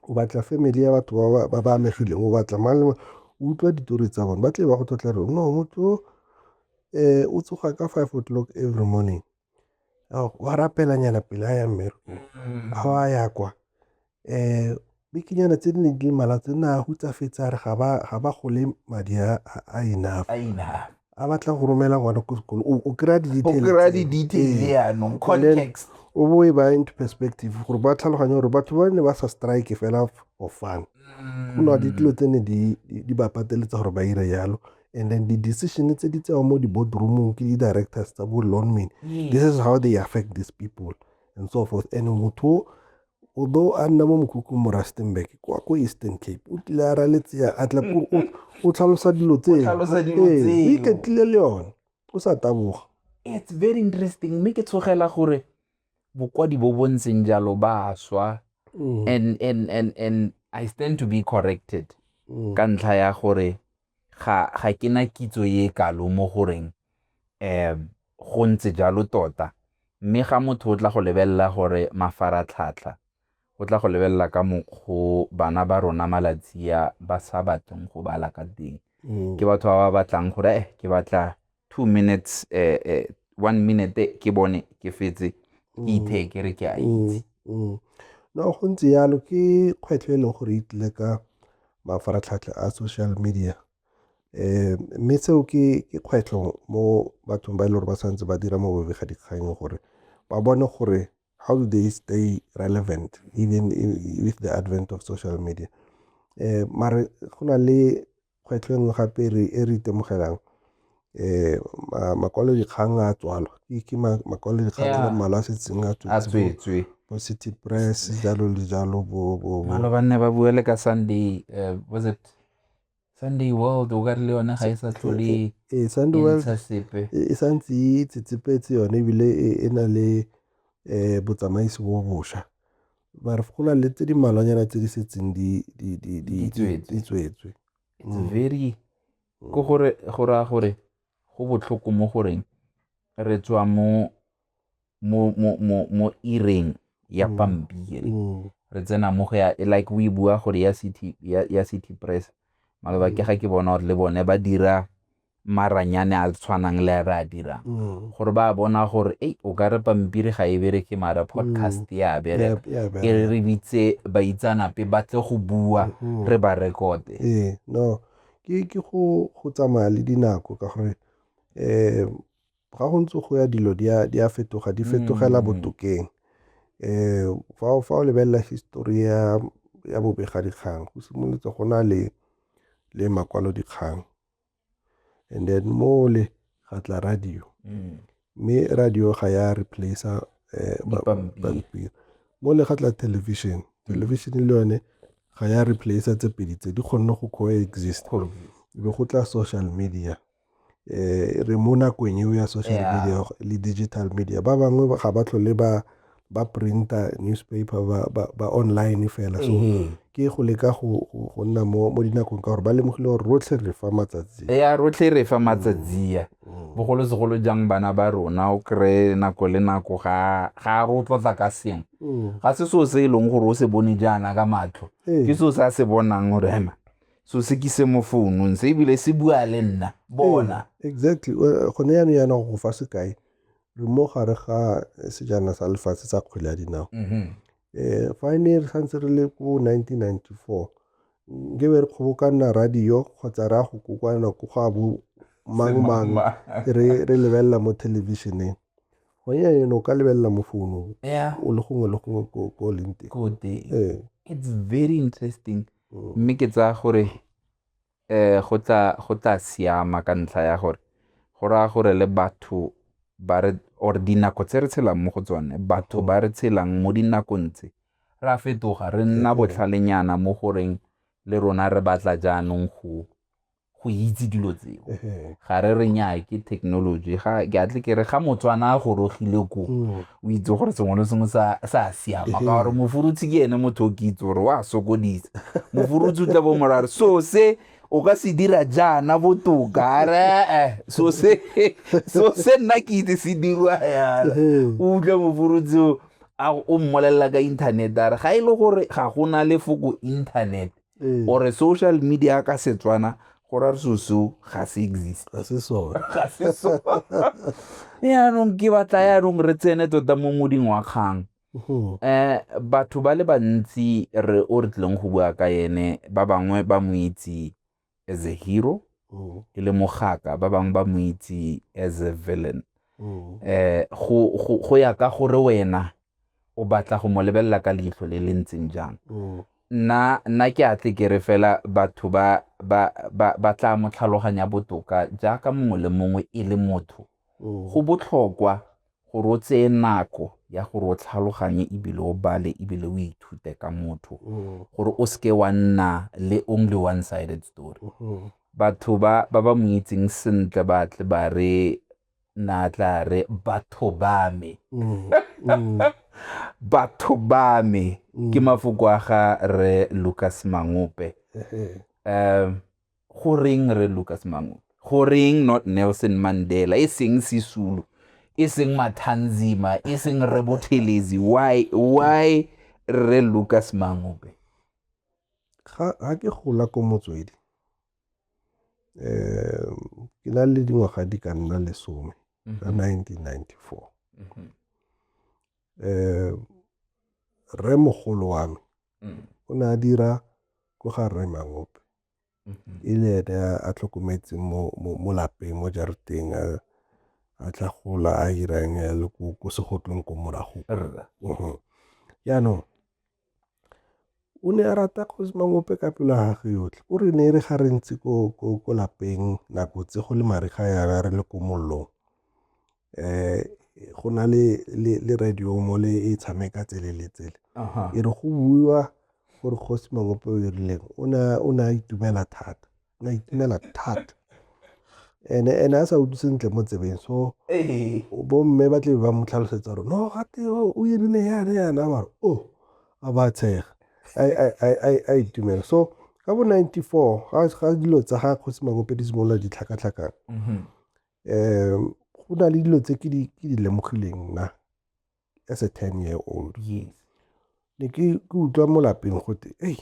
o batla family ya batho ba ba amegileng o batla mang le mang o utlwa ditori tsa bone ba tle ba go tlotla re no motho o um o tsoga ka five o'clock every morning wa rapelanyana pele a ya mmerekong mm-hmm. a wa ya kwa um bikinyana tse di neng di le malatsi nna a hutsafetse a re ga ba gole madi a enough a batla go romela ngwana ko sekolo o kry-a di-details yaanong context o bo e ba into perspective gore ba tlhaloganye gore batho ba ne ba sa strike fela for fun mm. go na le dilo tse ne di ba pateletsa gore ba ire jalo and then di-decision tse di tsewa mo di-boardroomong ke di-directors tsa bo lonman this is how they affect these people and so forth and motho o do a nna mo mokhukhung mo rustenburg kwa ko eastern cape o tlile a raletsea a tla o tlhalosa dilo tsee o iketlile le yone o sa taboga it's very interesting mme ke tshogela gore bokwadi bo bo ntseng jalo ba swa mm. and and and and i stand to be corrected mm. ka ntlha ya gore ga ga ke na kitso e kalo mo goreng um go ntse jalo tota mme ga motho o tla go lebelela gore mafaratlhatlha o tla go lebelela ka mokgo bana ba rona malatsi a ba sa batleng go bala ka teng mm. ke batho ba ba batlang gore eh ke batla two minutes eh, eh, one minute ke bone ke fetse ke mm. ithe ke re ke a mm, itse mm. no go ntse yalo ke kgwetlho e leng gore itlile ka mafaratlhatlha a social media um mme seo ke kgwetlho mo bathong ba e le gore ba tshwanetse ba dira mo bobega dikgang gore ba bone gore how do they stay relevant even with the advent of social media um mare go na le Kgwetlho e nngwe gape e re itemogelang makwalodikgang a tswalwa ke makwalodikgang a le mmalwa a setseng a tswetswe bo city press jalo le jalo bobalo ba nne ba bue le ka sunday eh, was it sunday world o ka re le yone ga e sa tlhole e, e, e sunday world e sa ntse e tsetsepetse yone ebile e na le um botsamaisi bo bosha mare go na le tse di malwanyana tse di setseng di tswetswe it's mm. very mm. ko gore go raya gore go botlhoko mo goreng re tswa mo mo mo mo mo ireng ya mm. pampiri re tsena mo go ya like we bua gore ya city ya, ya city press maloba ke ga ke bona gore le bone ba dira maranyane a tshwanang le a re a dirang mm. gore ba bona gore ei o ka re pampiri ga e bereke mara podcast mm. ya bereka e re re bitse baitsanape ba tle go bua mm-hmm. re ba rekote ee no ke ke go go tsamaya le dinako ka gore um ga go ntse go ya dilo di a fetoga di fetogela mm. botokeng um fa fa o lebelela histori ya ya bobegadikgang go simolotse go na le le makwalodikgang and then mole ga tla radio mm. mme radio ga ya replacea eh, pampiri mole ga tla television television le yone ga ya replacea tse pedi tse di kgonne go coexist be go tla social media eh re mo nakong eo ya social media le digital media ba bangwe ga ba tlhole ba ba printa newspaper ba, ba, ba online fela so mm -hmm. ke go leka go, go, go nna mo, mo dinakong ka gore ba lemogile gore rotlhe re fa matsatsi ya rotlhe re fa matsatsi ya mm -hmm. bogolosegolo jang bana ba rona o kry nako le nako ga, ga re o tlotla ka sengwe mm -hmm. ga se seo se e leng gore o se bone jaana ka matlho hey. ke seo se a se bonang gore hema so se ke se mo founung se ebile se bua le nna bona exactly gone yanong yana go fa sekai re mo gare ga eh, sejana sa lefatshe sa kgwele ya dinao mm-hmm. eh, fa e ne re santse re le ko 1994 nke be re kgobokana radio kgotsa re a go kokwana ko go a bo mang mang re lebelela mo thelebišeneng gone yane o ka lebelela mo founong o le gongwe le gongwe ko leng teng ee. it's very interesting mm. mme ke tsaya gore Ee, go tla go tla siama ka ntlha ya gore go raya gore le batho ba re or dinako tse re tshelang mo go tsone batho ba re tshelang mo dinakong tse ra fetoga re nna botlhalenyana mo goreng le rona re batla jaanong go go itse dilo tseo ga re re nyaa ke technology ga ke atle ke re ga motswana a gorogile ko mm. o itse gore sengwe le sengwe sa sa siama ka gore mofurutshi ke ene motho o ke itse gore wa sokodisa mofurutshi o tla bo mora gore so se o ka se dira jaana botoka are eh, so se so se nna ke itse se dirwa yana Ehe. o utlwe mofurutsi o a- o mmolelela ka internet a re ga e le gore ga go na lefoko internet ore social media ka setswana go ra so so ga se exist ga se so ga se so yaanong ke batla yaanong re tsene tota mo moding wa kgang um batho ba le bantsi re o re tlileng go bua ka ene ba bangwe ba mo itse as a hero mm. e le mogaka ba bangwe ba mo itse as a villain mm. eh go go go ya ka gore wena o batla go mo lebelela ka leitlho le le ntseng jang mm. nna nna ke a tle ke re fela batho ba ba ba ba tla mo tlhaloganya botoka jaaka mongwe le mongwe e le motho go botlhokwa gore o tseye nako ya gore o tlhaloganye ebile o bale ebile o ithute ka motho mm. gore o seke wa nna le only one sided story mm-hmm. batho ba ba ba mo itseng sentle ba tle ba re na tla re batho ba me mm, mm. batho ba me ke mafoko a ga re lucas mangope um Goreng Rre Lucas Mangube? Goreng not Nelson Mandela? E seng Sisulu? E seng Mathanzima? E seng Rre Bothelezi? Why? Why Rre Lucas Mangube? Ga ke gola ko motswedi. Um, ke na le dingwaga di ka nna lesome ka 1994. Mm-hmm. um rre mogolo wa me mm. o ne a dira ko ga rre mangope mm-hmm. e le ene a tlhokometseng mo lapeng mo jareteng a tla gola a irang le ko segotlong ko morago mm-hmm. jaanong O ne a rata Kgosi Mangope ka pelo ya gagwe yotlhe. O re ne e re ga re ntse ko lapeng nako tse go le mariga yana re le ko mollong um go na le radio mo le e tshameka tsele le tsele. E re go buiwa gore Kgosi Mangope o dirileng o ne a itumela thata. la itumela thata ene ene a sa utlwe sentle mo tsebeng so bomme ba tlebe ba mo tlhalosetsa gore no gate o erile yana yana mare o a ba tshega a itumela so ka bo ninety four ga dilo tsa ga kgosi makope di simolola ditlhakatlhakang um go na le dilo tse ke di lemogileng nna as a ten year old yes ne ke utlwa mo lapeng gote ei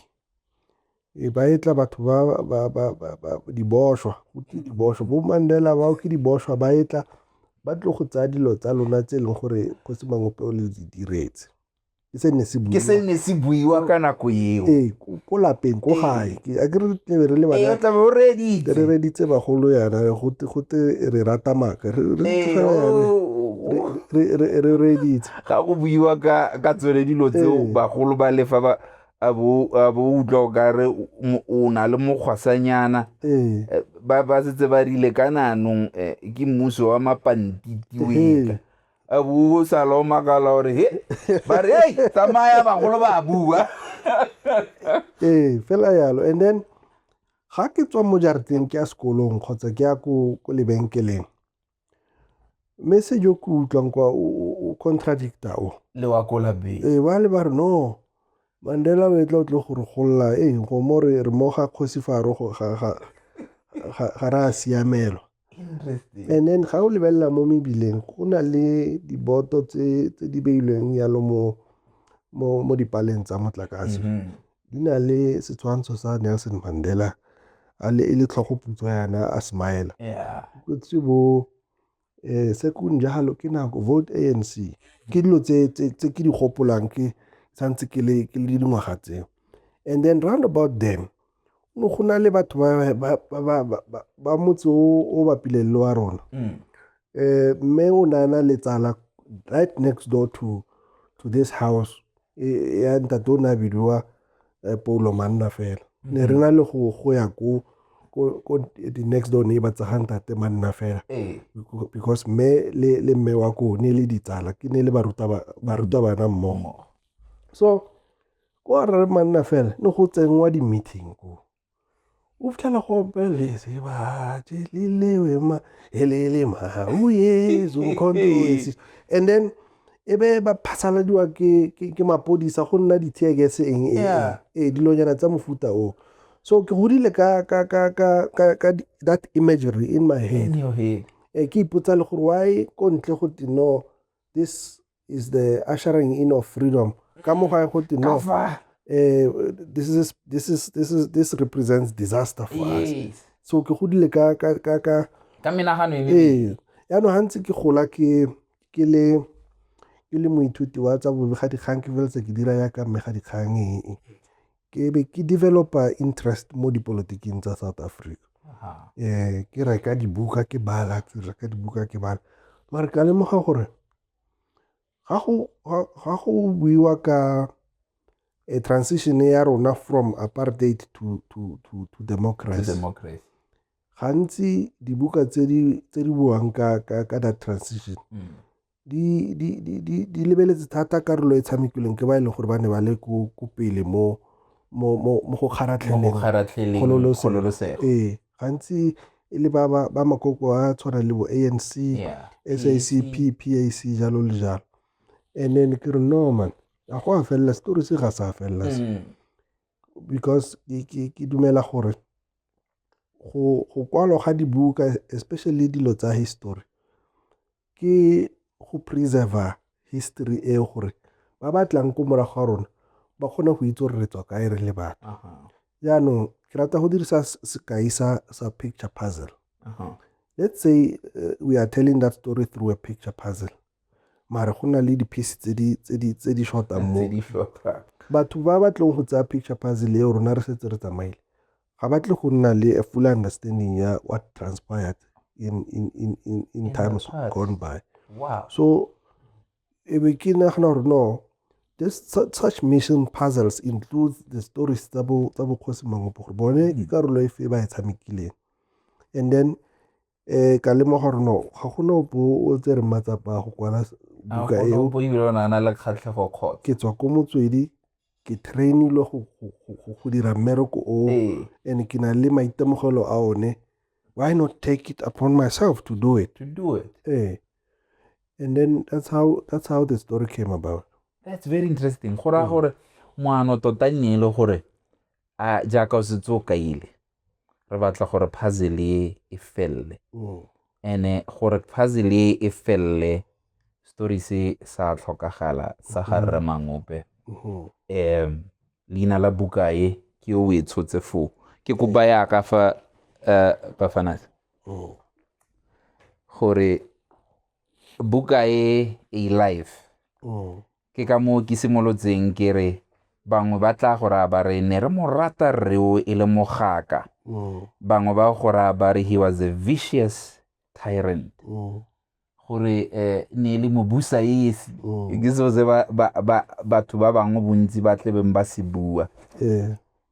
e ba e tla batho ba ba ba ba ba diboshwa go ke diboshwa bo mandela bao ke diboshwa ba e tla ba tlo go tsaya dilo tsa lona tse e leng gore kgosi mangope o le di diretse ke se ne se buiwa ka nako eo ee ko lapeng ko gae a ke re tlebe re le bana tlabe o reditse re reditse bagolo yana go te re rata maka re reditse ga go buiwa ka ka tsone dilo tseo bagolo ba lefa ba a bo a bo utlwa o ka re o na le mokgwasanyana ba ba setse ba rile ka nanong ke mmuso wa mapantiti o a boo salo makala gore he ba re ei tsamaya bagolo ba bua ee fela yalo and then ga ke tswa mo jarateng ke ya sekolong kgotsa ke ya ko lebenkeleng mme se jo ke utlwang kwa o contradicta o le wa ko lapeng ee ba le ba re no mandela o etla o tle go re golola ee go mo re re mo ga kgosi fa ro ga re a siamelwa Interesting. And then ga o lebelela mo mebileng go na le diboto tse tse di beilweng yalo mo mo mo dipaleng tsa motlakase. Mhm. Di na le setshwantsho sa Nelson Mandela a le e le tlhogo putswa yana a smile. Yeah. Kutse bo eh se kung jalo ke nako vote ANC. Ke dilo tse tse tse ke di gopolang ke santse ke le ke le dingwaga tseo. And then round about then no go na le batho ba motse o bapileng le wa rona um mme o ne a na le tsala right next door to to this house e, ya ntate o ne a bidiwa eh, paulo manna fela mm-hmm. ne re na le go go ya ko ko the next door neighbor tsa ga ntate manna fela eh. because mme le le mme wa ko ne le ditsala ke ne le baruta baruta bana mmogo so Kwa rre manna fela ne go tsenngwa di-meeting ko. O fitlhela go opeletse batse le lewe ma e le le mau yeso controversy. And then e be ba phasaladiwa ke, ke, ke mapodisa go nna di-teargas eng eng Yeah. ee dilonyana tsa mofuta o so ke godile ka, ka, ka, ka, ka, ka di- that imagery in my head Anyway, Eh, ke ipotsa le gore why ko ntle go te no this is the ushering in of freedom ka mo gae go te no eh, this is this is this is this represents disaster for yes. us so ke godile ka ka ka ka ka menagano e ee yaanong gantsi ke gola ke ke le ke le moithuti wa tsa bobega dikgang ke feletse ke dira yaka mme ga dikgang ee ke be ke developa interest mo dipolotiking tsa south africa um ke reka dibuka ke bala ke reka dibuka ke bala mare ka lemoga gore ga go buiwa ka a transition ya rona from apartheid to, to, to, to democracy, democracy. gantsi dibuka tse di buang ka, ka, ka that transition mm. di, di, di, di, di lebeletse thata karolo e tshamekilweng ke ba e leng gore ba ne ba le ko pele mo mo go kgaratlheleng kgololosego ee gantsi e le ba ba ba makoko a tshwana le bo ANC, yeah. SACP, PAC jalo le jalo. And then ke re no man, a go a felela story se ga sa felela se. Mm. Because ke ke dumela gore go go kwalo ga dibuka especially dilo tsa history ke go preserve-a history eo gore ba ba tlang ko morago ga rona ba kgone go itse gore re tswa kae re le batho jaanong ke rata go dirisa sekai sa sa picture puzzle let's say uh, we are telling that story through a picture puzzle mare go na le di-piece tse di shortang mo batho ba ba tlong go tsaya picture puzzle eo rona re setse re tsamaile ga ba tle go nna le a full understanding ya what transpired in, in, in, in, in times gone by wow. so e be ke nagana gore no this such mission puzzles includes the stories tsa bokgosi mangopo gore bone ke karolo e fe ba e tshamekileng and then um ka lemoga gore no ga gona opo o tsere matsapa a go kwala buka eo ke tswa ko motswedi ke trainilwe go dira mmereko o and ke na le maitemogelo a one why not take it upon myself to do it to do it eh and then that's how that's how the story came about that's very interesting go raya mm. gore moano tota nne e le gore a jaaka o setse o kaile re batla gore puzzle e e felele mm. and-e gore puzzle e e felele story se sa tlhokagala sa ga mm-hmm. rre mangope um mm-hmm. leina la buka e ke o e tshotse foo ke kopa yaka fa eh, bafanas mm. gore buka e e life Ke ka moo ke simolotseng ke re bangwe ba tla go raya ba re ne re mo rata rreo e le mogaka mm. bangwe ba go raya ba re he was a vicious tyrant mm. gore eh, ne e le mobusa esi mm. ke seo se batho ba bangwe bontsi ba tlebeng ba se bua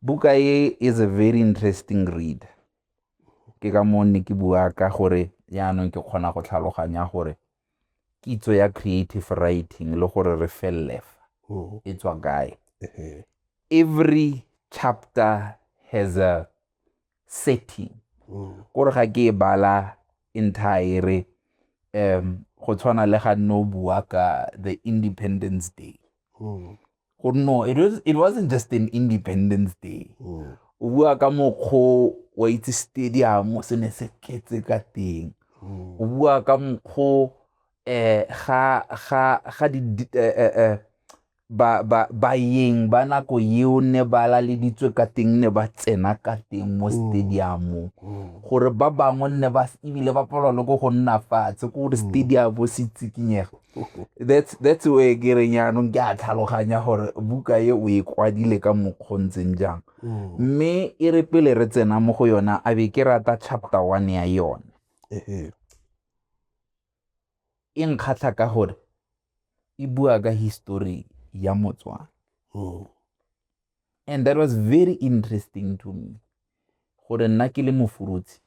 buka e is a very interesting read ke ka moo ne ke bua ka gore yaanong ke kgona go tlhaloganya gore kitso ya creative writing le gore re felele fa oh. e tswa kae every chapter has a setting oh. kore ga ke e bala entire um go tshwana le ga nne o bua ka the independence day oh. go no it was it wasn't just an independence day mm. o bua ka mokgo wa itse stadium se ne se ketse ka teng mm. o bua ka mokgo eh ga ga ga di eh, eh, eh, ba ba ba yeng ba nako eo ne ba la le ditswe ka teng ne ba tsena ka teng mo mm. stadium gore ba bangwe ne ba ebile ba palwa le go go nna fatshe ko gore stadium se tsikinyega that's that's way ke reng yaanong ke a tlhaloganya gore buka e o e kwadile ka mokgwa ntseng jang mm. mme e re pele re tsena mo go yona a be ke rata chapter one ya yone e nkgatlha ka gore e bua ka history ya motswana mm. and that was very interesting to me gore nna ke le mofurutsi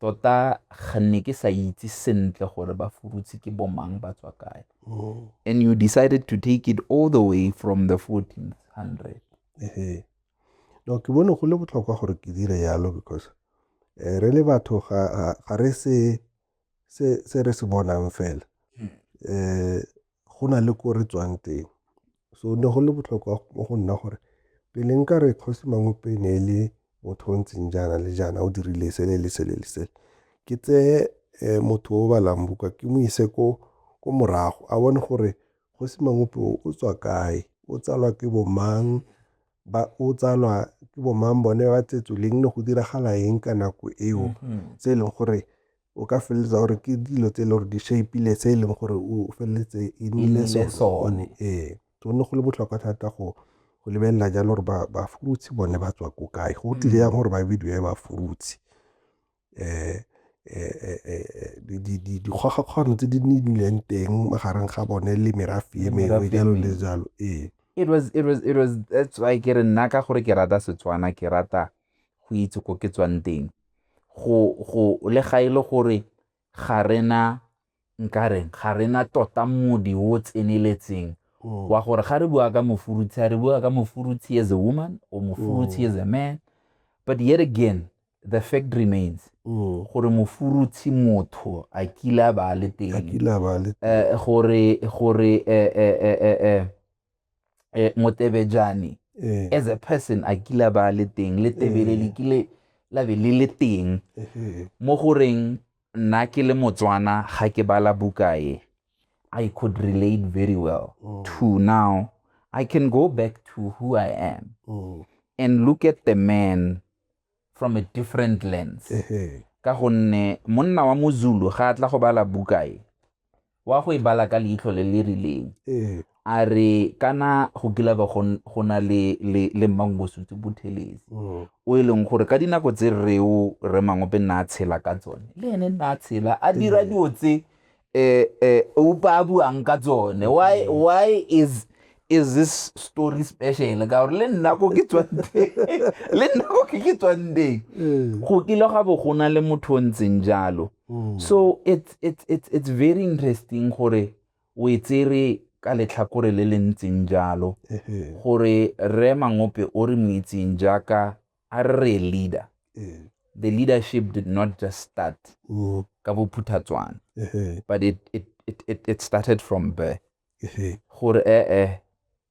tota ga nne ke sa itse sentle gore ba furutse ke bomang ba tswa kae oh. and you decided to take it all the way from the 1400 ehe no ke bone go le botlhokwa gore ke dire yalo because eh, re le batho ga re se se re se bonang fela um go na le ko re tswang teng. So ne go le botlhokwa mo go nna gore pele nka re kgosi Mangwepe ne e le motho o ntseng jaana le jaana o dirile sele le sele le sele. Ke tseye um motho o balang buka ke mo ise ko ko morago a bone gore kgosi Mangwepe o tswa kae, o tsalwa ke bo mang, o tsalwa ke bo mang bone ba tsetswe leng, ne go diragala eng ka nako eo tse e leng gore o ka feleletsa gore ke dilo tse e le gore di shape-ile se e leng gore o feleletse e nnile sone ee so ne go le botlhokwa thata go go lebelela jalo gore ba ba frutsi bone ba tswa ko kae go tlile yang gore ba bidiwe ba frutsi um dikgogakgogano tse di nnileng teng magareng ga bone le merafe e mengwe jalo le jalo ee it was it was it was that's why ke re nna ka gore ke rata setswana ke rata go itse ko ke tswang teng go le ga e le gore ga rena nkareng ga rena tota modi o tseneletseng mm. wa gore ga re bua ka mofurutshi ga re bua ka mofurutshi as a woman or mofurutshi mm. as a man but yet again the fact remains mm. gore mofurutshi motho a kile a ba le teng eh, gore gore eh, eh, eh, motebejane eh. as a person a kila ba le teng le tebele eh. le kile la be le le teng eh. mo goreng nna ke le motswana ga ke bala bukae i could relate very well mm. to now i can go back to who i am mm. and look at the man from a different lens ka gonne monna wa mozulu ga a tla go bala buka e wa go e bala ka leitlho le le rileng a re kana go kila ba go na le le mmangosutse bothelesi mm. o e leng gore ka dinako tse reo re mangope nna a tshela ka tsone le ene nna a tshela a dira dilo tse eh, eh, upa buang ka tsone why mm. why is is this story special ka gore le nna ko ke tswanteng le nna ko ke ke tswanteng mm. go kile ga bo go na le motho o ntseng jalo mm. so it's, it's, it's, it's very interesting gore o e tsere ka letlhakore le le ntseng jalo gore re mangope o re mo itseng jaaka a re re leader eh. the leadership did not just start mm. ka bophuthatswana but it, it, it, it, it started from birth gore ee eh, eh,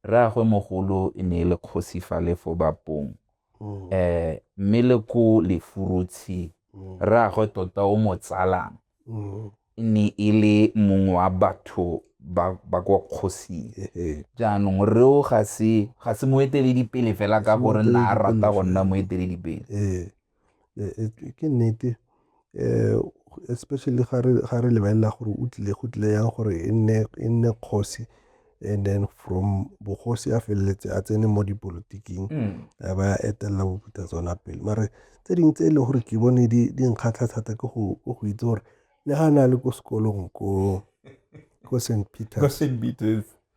rraagwe mogolo e ne e le kgosi fa le fo bapong um mme le ko lefurutshi mm. rraagwe tota o mo tsalang Mm. e ne e le mongwe wa batho ba ba kwa kgosing Ehe. jaanong reo ga se ga se moeteledipele fela ka gore na a rata go nna moeteledipele Eh, eh, eh, ke nnete eh especially ga re ga re lebelela gore o tlile go tlile yang gore e nne e nne kgosi and then from bogosi a feleletse a tsene mo dipolotiking mm. a ba etelela boputa tsona pele mare tse dingwe tse e leng gore ke bone di nkgatlha thata ke go itse gore le ga na le ko sekolong ko ko st peters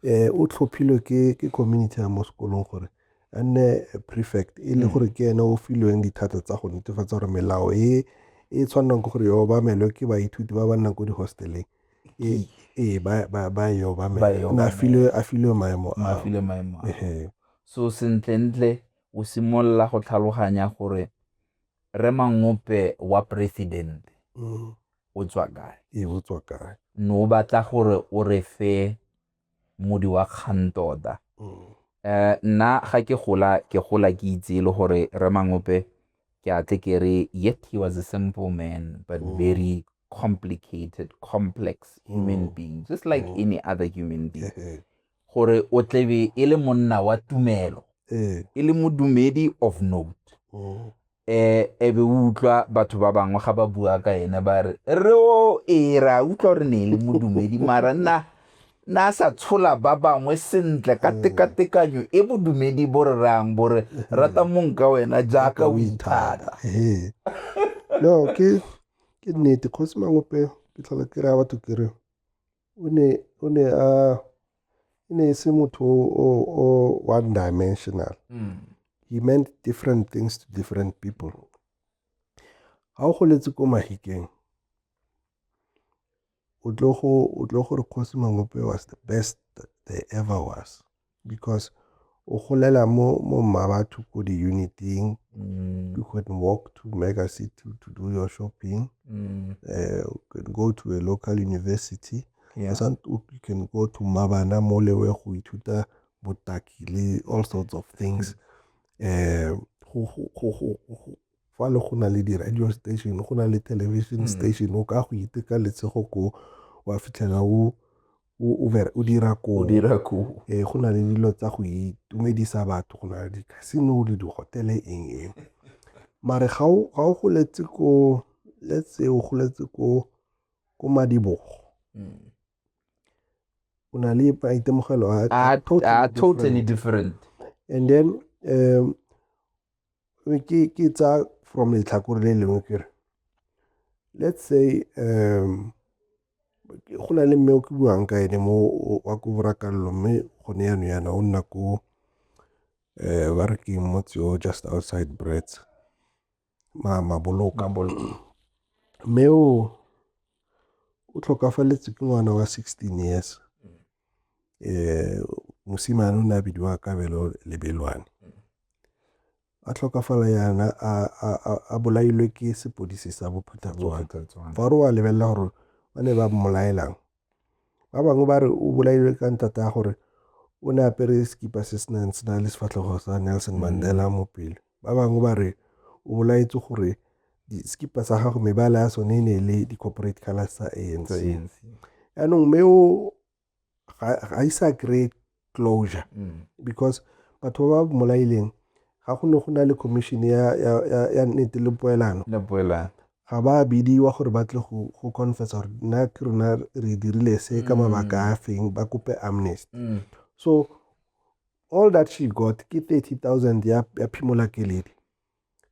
um o tlhophilwe ke community ya mo sekolong gore a nne prefect e le mm. gore ke ene o filweng dithata tsa go netefatsa gore melao e e tshwanang ke gore yo obamelwe ke baithuti ba ba nnang ko di-hosteleng ee ee ba ba ba e obamela Ba e o ne a obamela. filwe a filwe maemo a ao. mafile maemo a Ehe. so sentlentle o simolola go tlhaloganya gore re mangope wa president Mm. o tswa kae ee o tswa kae ne o batla gore o re fe modi wa kgang tota um nna ga ke gola ke gola ke itse e le gore re mangope ke a tle ke re yet he was a simple man but mm. very complicated complex human mm. being just like mm. any other human being gore o tlebe e le monna wa tumelo eh. e le modumedi of note eh e be o utlwa batho ba bangwe ga ba bua ka ene ba re re o e ra utlwa gore ne e le modumedi mara nna na sa tshola ba bangwe sentle ka mm. tekatekanyo e bodumedi bo re rayang bo re mm. rata mong ka wena jaaka o ithata no ke ke nnete kgosi mangope ke tlhola ke raya batho ke re o ne, o ne a e ne e se motho o o one dimensional mm. he meant different things to different people ga o goletse ko mahikeng o tlo gore kgosi mangope was the best there ever was because o golela mo mo mmabatho ko di-uniting mm. you can walk to mega city to do your shopping mm. uh, you can go to a local university yeah. you can go to mabana mo lewe go ithuta botaki le all sorts of things um fa le go na le di-radio station go na le television mm. station o ka go iteka letshego ko wa fitlhela o o dira koo ee go na le dilo tsa go itumedisa batho go na le di-casino le di-hotele eng eng mare ga o goletse ko let's say o goletse ko ko madibogo mm. o na le maitemogelo a totally different and then um Ke tsa from letlhakore le lengwe ke re, let's say go na le mme o ke buang ka ene mo wa ko borakallo mme gone yano yana o nna ko um ba re ke motse o just outside brets maboloka mme o o tlhokafaletswe ke ngwana wa sixteen years eh mosimane o ne a bidiwa kabelo lebelwane a tlhokafala yana a bolailwe ke sepodisi sa bophuthatswana fa re wa lebelela gore ba ne ba mmolaelang ba bangwe ba re o bolailwe ka ntata ya gore o ne apere sekipa se se nang se na le sefatlhego sa nelson mandela mo pele Ba bangwe ba re o bolaetswe gore sekipa sa gago mebala ya sone e ne le di-corporate colors tsa anc yaanong mme o ga isa kry closure mm. because batho ba ba mmolaileng ga go ne go na le commission ya nnete le poelano ga ba bidiwa gore ba tle go confessa gore nna ke rona re dirile se ka mm. mabaka a feng ba kope amnesty mm. so All that she got ke 30,000 ya, ya phimola keledi.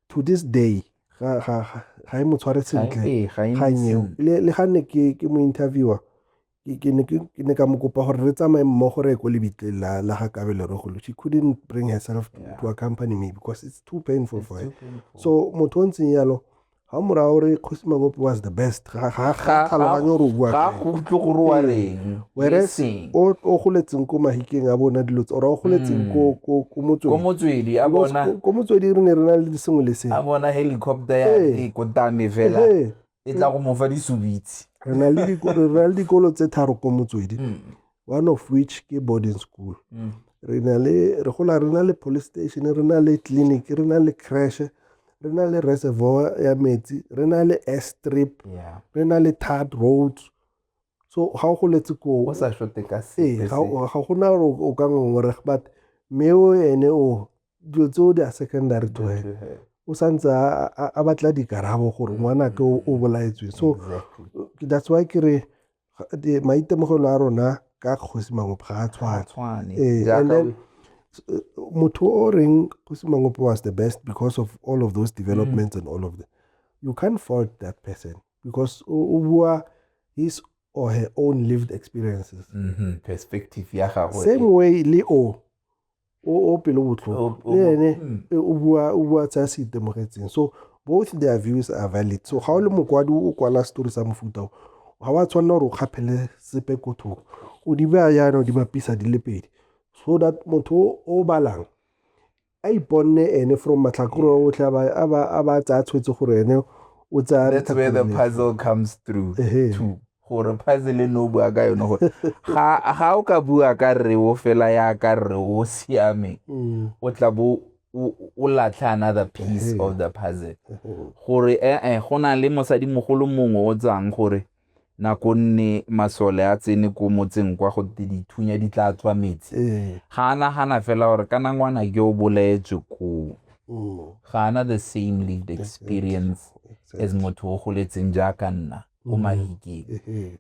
To this day, ga, ga, ga, ga e mo tshware sentle. Ga e- ga e mo kgang eo. sentle. Le, le ga ne ke, ke mo interviewer, ke, ke, ne, ke, ke ne ka mo kopa gore re tsamaye mmogo re ye ko lebitleng la, la ga Kabelo re golo. She couldn't bring herself to, to accompany me because it's too painful for her. So motho o ntseng yalo, ga morago re kgosi mabopo was the best ga tlhaloganye gore o bua ga go utlwe gore wa reng whereas o goletseng ko mahikeng a bona dilo tsa o goletseng ko ko ko motswedi ko motswedi a bona ko motswedi re ne re na le sengwe le sengwe a bona helicopter ya e ko tame fela e tla go mofa disubitsi re na le dikolo re na le dikolo tse tharo ko motswedi one of which ke boarding school mm. re na le re gola re na le police station re na le clinic re na le crash re na le reservoir ya metsi re na le air strip yeah. re na le tard road so ga go letse ko o sa shote ka se ga go na o ka ngongore but me o ene o dilo tseo di a secondary to her o santse a batla dikarabo gore ngwana ke o bolaetsweng so that's why ke re maitemogelo a rona ka kgosi mangophe ga a tshwane eh, and then eh, motho o reng kgosi mangophe was the best because of all of those developments mm. and all of them you can't fault that person because o bua his or her own lived experiences mm -hmm. perspective ya gagwe same way le o o o pelo botlhoko le ene mm. e, o bua o bua tsa se itemogetseng so both their views are valid so ga o le mokwadi o kwala story sa mofuta o ga wa tshwanela gore o kgaphele sepe ko thoko o di baya yana o di bapisa di le pedi so that motho o balang a iponne ene from matlhakore otlhe a ba tsaya tshwetse gore ene o tsaya that's where the puzzle comes through to gore puzzle e ne o bua ka yone gore ga o ka bua ka rre o fela ya ka rre o siameng mm. o tla bo o latlha another piece mm-hmm. of the puzzle mm-hmm. gore ee eh, go na le mosadimogolo mongwe o tswang gore nako nne masole a tsene ko motseng kwa go dithunya di tla tswa metsi mm. ga a nagana fela gore ka nangwana ke o bolaetswe koo mm. ga ana the same lead experience as motho o goletseng jaaka nna ko mahiking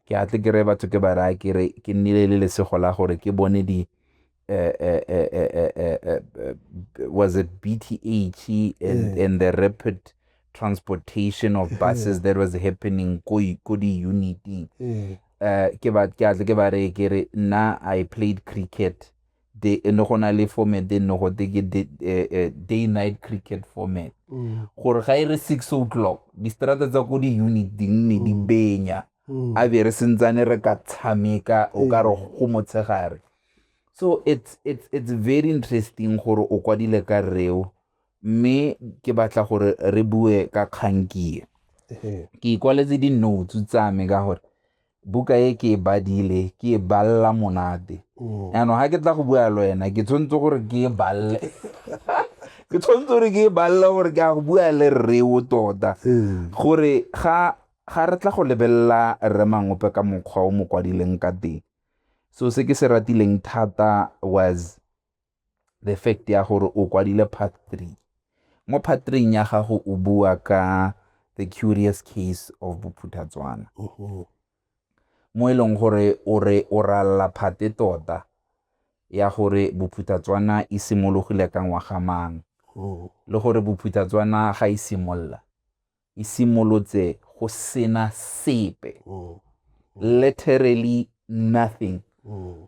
ke a tle kere batho ke ba raya kere ke nnile le lesego la gore ke bone di eh, eh, eh, was it BTH and, and the rapid transportation of buses that was happening ko di-uniting ke a tle ke ba reye kere nna i played cricket day e ne go na le format e ne go te ke eh, eh, day night cricket format mm. gore ga e re six o'clock distrata tsa ko di-unit di nne di mm. benya mm. a be re sentsane re ka tshameka o ka re go motshegare so it's, it's, it's very interesting gore o kwadile ka reo mme ke batla gore re bue ka kgankie ke ikwaletse di-notes tsa me ka gore buka e ke e badile ke e balela monate mm. yaanong ga ke tla go bua le wena ke tshwanetse gore ke e balele ke tshwanetse gore ke e balele gore ke a go bua le rreo tota mm. gore ga ga re tla go lebelela rre mangope ka mokgwa o mo kwadileng ka teng so se ke se ratileng thata was the fact ya gore o kwadile part 3 mo part 3 ya gago o bua ka the curious case of bophuthatswana mo e leng gore o re o ralla phate tota ya gore bophuthatswana e simologile ka ngwaga mang le gore bophuthatswana ga e simolola e simolotse go sena sepe literally nothing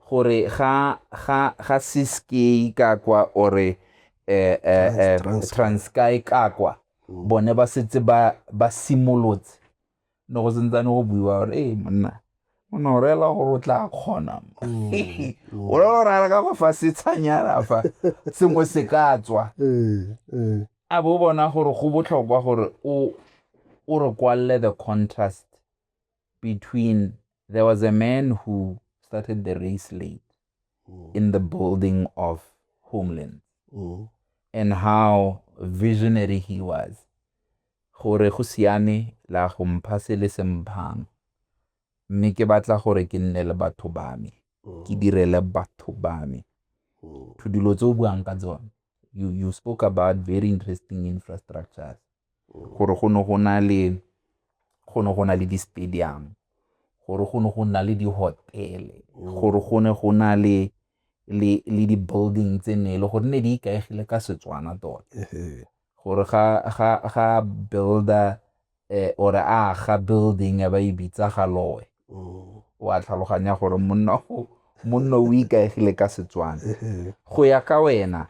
gore ga ga ga siskei ka kwa ore eh, eh, eh, transky ka kwa bone ba setse ba ba simolotse no go sentsane go buiwa gore ee monna o ne o rela gore o tla kgona o le gore a re ka go fa setshanyana fa sengwe se ka tswa Eh, eh. a bo bona gore go botlhokwa gore o o re kwalle the contrast between there was a man who started the race late mm. in the building of homeland mm. and how visionary he was gore go siame la go mpha se le se mphang mme ke batla gore ke nne le batho ba me mm. ke direle batho ba me mm. to dilo tse o buang ka tsone you, you spoke about very interesting infrastructures gore go ne go na le go ne go na le di-stadium gore go ne go na le di-hotel-e mm. gore go ne go na le le le di-building tse ne e le gore ne di ikaegile ka setswana tota gore ga ga ga builder eh or a ga building ba e bitsa ga loe mm. wa tlhaloganya gore monna go monna o ikaegile ka setswana go ya ka wena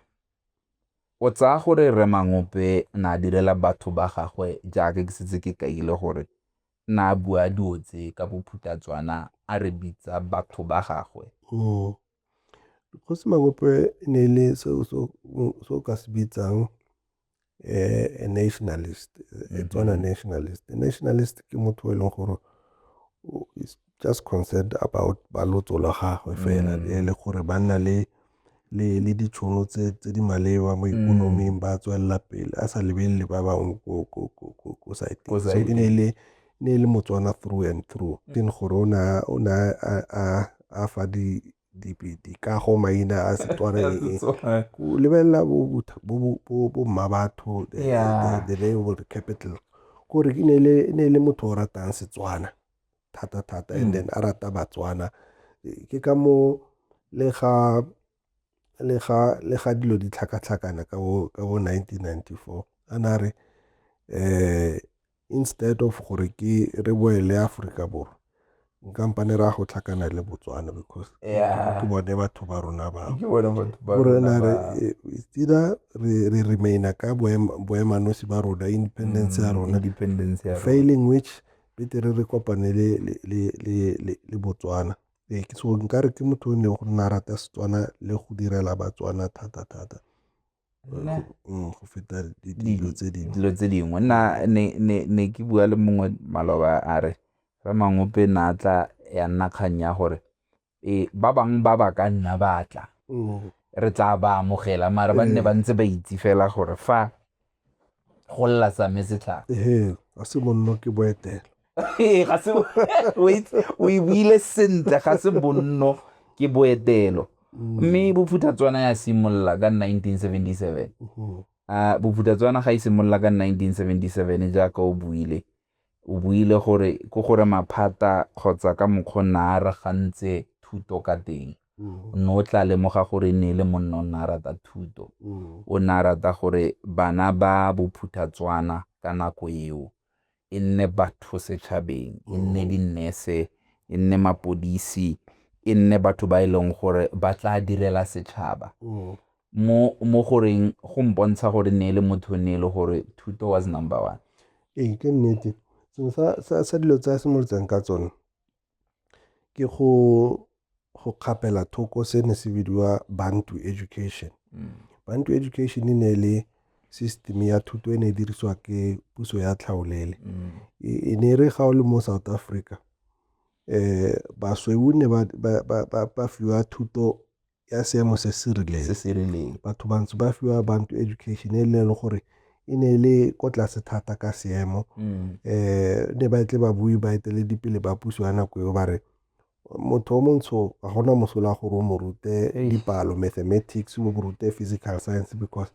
O tsaya gore Rre Mangope na a direla batho ba gagwe jaaka ke setse ke kaile gore na a bua dilo tse ka bophutatswana a re bitsa batho ba gagwe. Hmm. Kgosi Mangope e ne e le se o ka se bitsang eh, a nationalist, a mm-hmm. Tswana nationalist. A nationalist ke motho e leng gore is just concerned about balotso la gagwe fela mm. e le gore ba nna le le ditšhono tse di maleba mo ikonoming ba tswelela pele a sa lebelele ba bangwe ko site so e ne e le ne e le motswana through and through teng gore o ne a fa di dikago maina a setswana eng go lebelela bo mma batho the name of the capital gore e ne e le motho o ratang setswana thata-thata and then a rata Batswana. Ke ka moo le ga dilo di tlhakatlhakana ka bo nineteen ninety-four a na re instead of gore ke re boele Aforika Borwa nkampane re ya go tlhakana le Botswana because ke bone batho ba rona bao. Gore na re either re re remaina ka boemanosi ba rona independence ya rona failing which betere re kopane le Botswana. Ee, ke so nkare ke motho o ne go nna rata Setswana le go direla Batswana thata-thata mm, go feta dilo tse dingwe dilo tse dingwe nna ne ke bua le mongwe maloba a re ramamope na tla ya nna kgang ya gore e ba bangwe ba ba ka nna ba tla re tla ba amogela mara ba nne ba ntse ba itse fela gore fa go lla same setlhaka ee a se bonno ke boetela ee ga se o e buile sentle ga se bonno ke boetelo mme bophuthatswana ya simolola ka 1977 a bophuthatswana ga e simolola ka 1977 jaaka o buile O buile gore ke gore maphata kgotsa ka mokgwa o ne a aragantse thuto ka teng, o ne o tla lemoga gore e ne e le monna o ne a rata thuto. O ne a rata gore bana ba bophuthatswana ka nako eo, e nne batho setšhabeng, e nne di-nurse, e nne mapodisi, e nne batho ba e leng gore ba tla direla setšhaba, mo mo goreng go mpontsha gore ne le motho ne le gore thuto was number one ee ke nnete sengwe sa, sa, sa dilo tsa simolotseng ka tsone ke go go kgapela thoko se ne se bidiwa bantu education mm. bantu education e ne le system ya thuto e ne e dirisiwa ke puso ya tlhaolele mm. e, e ne e re ga o le mo south africa um basweu ne ba fiwa thuto ya seemo se se rileng se se rileng batho bantsi ba fiwa bantu education e leng gore e ne e le ko tlase thata ka seemo um ne ba tle ba bue ba eteledipele ba puso ya nako eo ba re motho o montsho ga gona mosola gore o mo rute dipalo mathematics o mo rute physical science because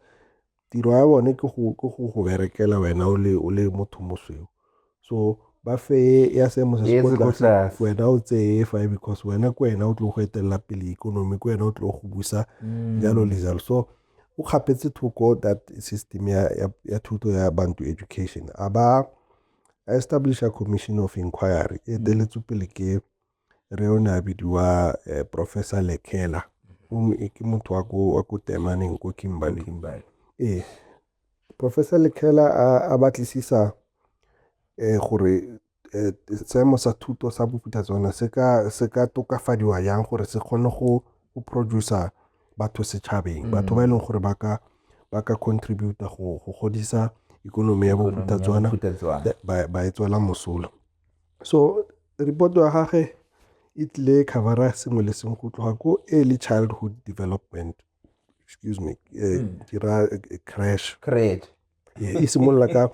tiro ya bone ke go go berekela wena o le o le motho mosweu so ba feye ya seemo se se kwa tlase wena o tseye fa because wena ke wena o tlo go etelela pele ikonomi ke wena o tlo go busa mm. jalo le jalo so o kgapetse thoko that system ya, ya, ya thuto ya bantu education a ba establisha commission of inquiry e mm. eteletswe pele ke re o ne a bidiwa eh, professor lekela e ke motho wa ko temaneng ko kimberley ee professor lekela a batlisisa um gore eh, seemo sa thuto sa boputa tsona se ka tokafadiwa yang gore se kgone go producer batho setšhabeng mm. batho ba e leng gore ba ka ba ka contributa go go godisa ikonomi ya bophutatswana ba e tswela mosola so Report ya gage e tlile e cover-a sengwe le sengwe go tloga ko early childhood development excuse me eh, hmm. ke ra eh, crash crash e simolola ka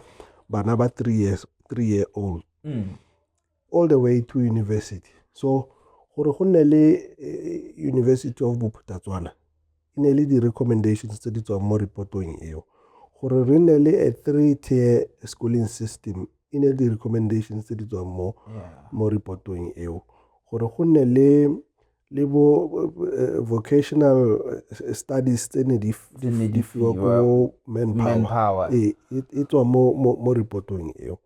bana ba three years three year old hmm. all the way to university so gore go nne le eh, university of bophutatswana e ne e le di-recommendations tse di tswang mo reportong eo gore re nne le a three tier schooling system e ne di-recommendations tse di tswang mo mo reportong eo gore go nne le le bo eh, vocational eh, studies tse ne di fiwa ko manpower e, e, e tswa mo mo reportong eo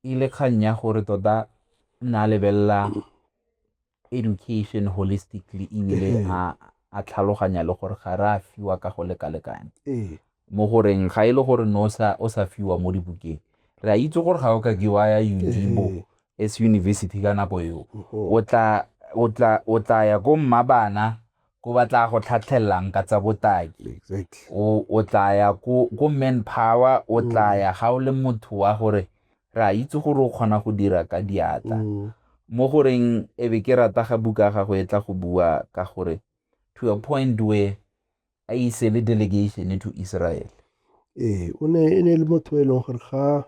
e ile kgang ya gore tota na lebelela education holistically ebile ee. a a tlhaloganya le gore ga re a fiwa ka go lekalekane ee. mo goreng ga e le gore no o sa fiwa mo dibukeng re a itse gore ga o ka ke wa ya unibo ee. as university ka nako eo o tla ya ko mmabana ko ba tla go tlhatlhelelang ka tsa botaki exactly. o, o tla ya ko, ko man power o mm. tla ya ga o le motho wa gore re a itse gore o kgona go dira ka diatla mm. mo goreng e be ke rata ga buka ga go e tla go bua ka gore to a point where a ise le delegation to israel ee o ne e ne le motho e leng gore ga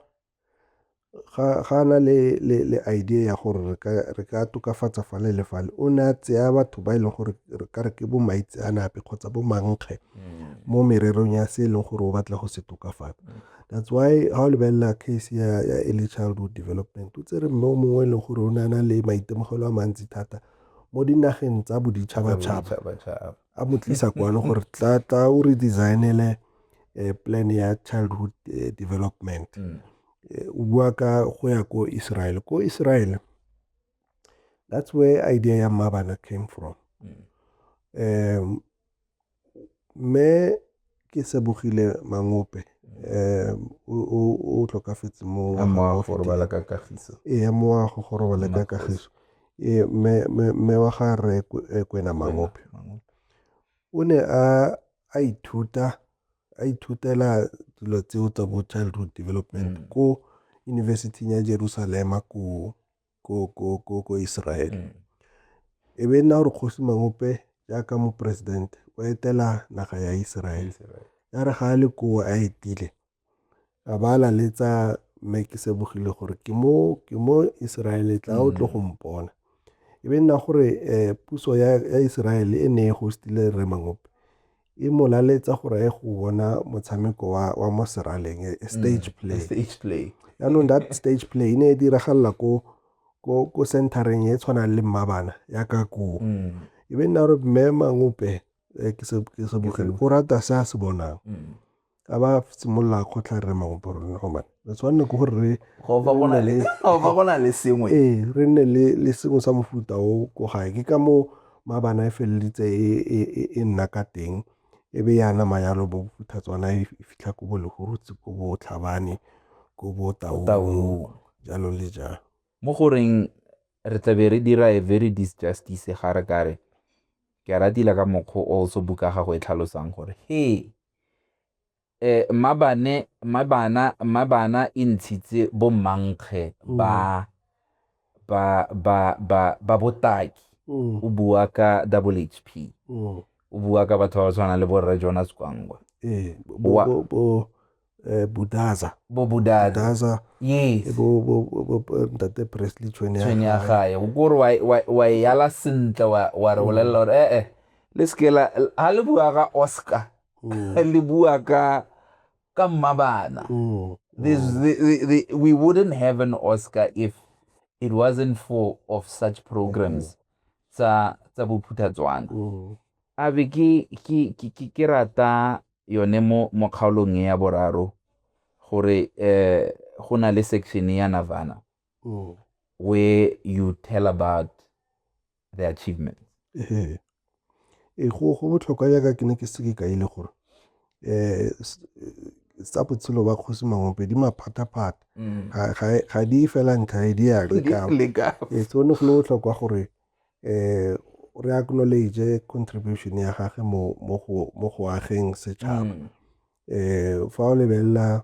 ga a na le idea ya gore re ka tokafatsa fale le fale o ne a tseya batho ba e leng gore re ka re ke bo maitseanape kgotsa bo mankge mo mererong ya se e leng gore o batla go se tokafatsa that's why ga o lebelela case ya early childhood development o tsere mme o mongwe e leng gore o ne a na le maitemogelo a mantsi thata mo dinageng tsa boditšhabatšhaba a mo tlisa kwano gore tla tla o re designele eh, plan ya childhood eh, development mm. eh, o bua ka go ya ko israel ko israel that's where idea ya mmabana came from mm. um, me ke Sebogile Mangope o tlhokafetse mo moago go robala ka kagiso ee moago go robala ka kagiso ee mme wa ga re kwena Mangope o ne a a ithuta a ithutela dilo tseo tsa bo childhood development ko University ya Jerusalema ko ko, ko, ko, ko Israele. Mm. E be nna gore kgosi mangope jaaka moporesidente o etela naga ya Israele. Israele. Ya re ga a le koo a etile a ba a laletsa mme ke sebogile gore ke mo ke mo Israele tla o tlo go mm. mpona. E be nna gore eh, puso ya, ya Israele e ne e hostile re mangope e mo laletsa gore ye go bona motshameko wa, wa mo seraleng e, e stage mm, play stage play yaanong that stage play e ne e diragalela ko ko ko centereng e tshwanang le mmabana ya ka koo mm. e be nna gore mme mangope eh, ke se bogele o rata se a se bonang mm. a ba simolola go tla re mangwe bo rona go bane re tshwanne ke gore re go ba go na le go ba go na le sengwe ee re nne le le sengwe sa mofuta o ko gae ke ka mo mabana e felelitse e, e, e, e nna ka teng e be ya nama yalo bo futhatswana e fitlha ko bo legorutse ko bo tlhabane ko bo taong jalo le jalo mo goreng re tlabe re dira a very disjustice ga re kare ke a ratile ka mokgwa o also buka gago e tlhalosang gore he e, mmabane mmabana mmabana e ntshitse bommankge mm. ba ba ba ba ba botaki mm. o bua ka double hp mm. o bua ka batho ba ba tshwana le borre jonas kwangwa ee bodaza bo bodaza yes bo bo bo ntate presley tshwenya ga ya go re wa wa yala sentle wa wa re bolelela gore eh eh le seke la ha le bua ka oscar Mm. le bua ka ka mmabana Mm. There's, the, the, the, we wouldn't have an oscar if it wasn't for of such programs tsa tsa bophuthatswana Mm. a be ke ke ke- ke ke rata yone mo mo kgaolong e ya boraro gore eh go na le section ya Navana Mm. where you tell about the achievement ee ee go go botlhokwa yaka ke ne ke seke ka ile gore eh tsa botshelo ba kgosi mangompe di maphata-phata mm. ga di fela ntlha e di ya leka ee so ne go le botlhokwa gore eh re acknowledge contribution ya gage mo mo go ageng setšhaba mm. eh fa o lebelela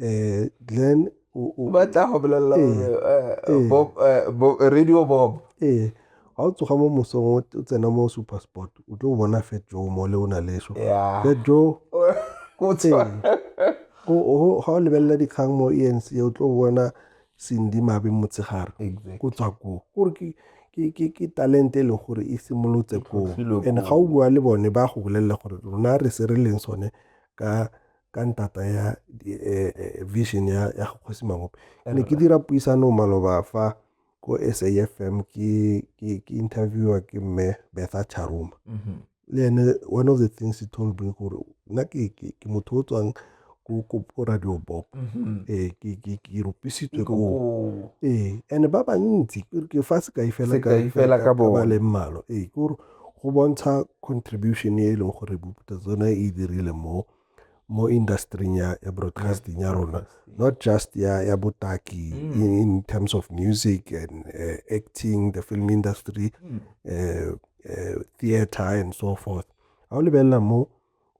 Eh, Glenn o o ba tla go bolelela Ee. gore eh, Ee. Bob, eh, Bo- radio bob ee ga o tsoga mo mosong o o tsena mo super sport o tlo bona fet jo mo le o na le so ya fet jo Go tshwana. o- o- ga o lebelela dikgang mo e nc o tlo bona sendi mabe motshegare Exactly. go tswa koo gore ke- ke- ke- ke talente e leng gore e simolotse koo tlhotlhilwe and koo. ga o bua le bone ba go bolelela gore rona re se re leng sone ka ka ntata ya eh, eh, vision ya ya kgosi mamope ke ne ke dira puisano maloba fa ko SAFM ke ke ke interviewer ke mme Betha Charuma mhm. le ene one of the things he told me gore nna ke ke motho o tswang ko radio bop mm-hmm. ee eh, ke rupisitswe ko ee eh, and ba bantsi ke fa sekai fela ka ba leng malo ee eh, ke gore go bontsha contribution e leng gore boputa tsone e dirile mo mo industry-ing ya, ya broadcasting ya rona not just ya, ya botaki mm. in, in terms of music and uh, acting the film industry mm. uh, uh, theater and so forth ga o lebelela mo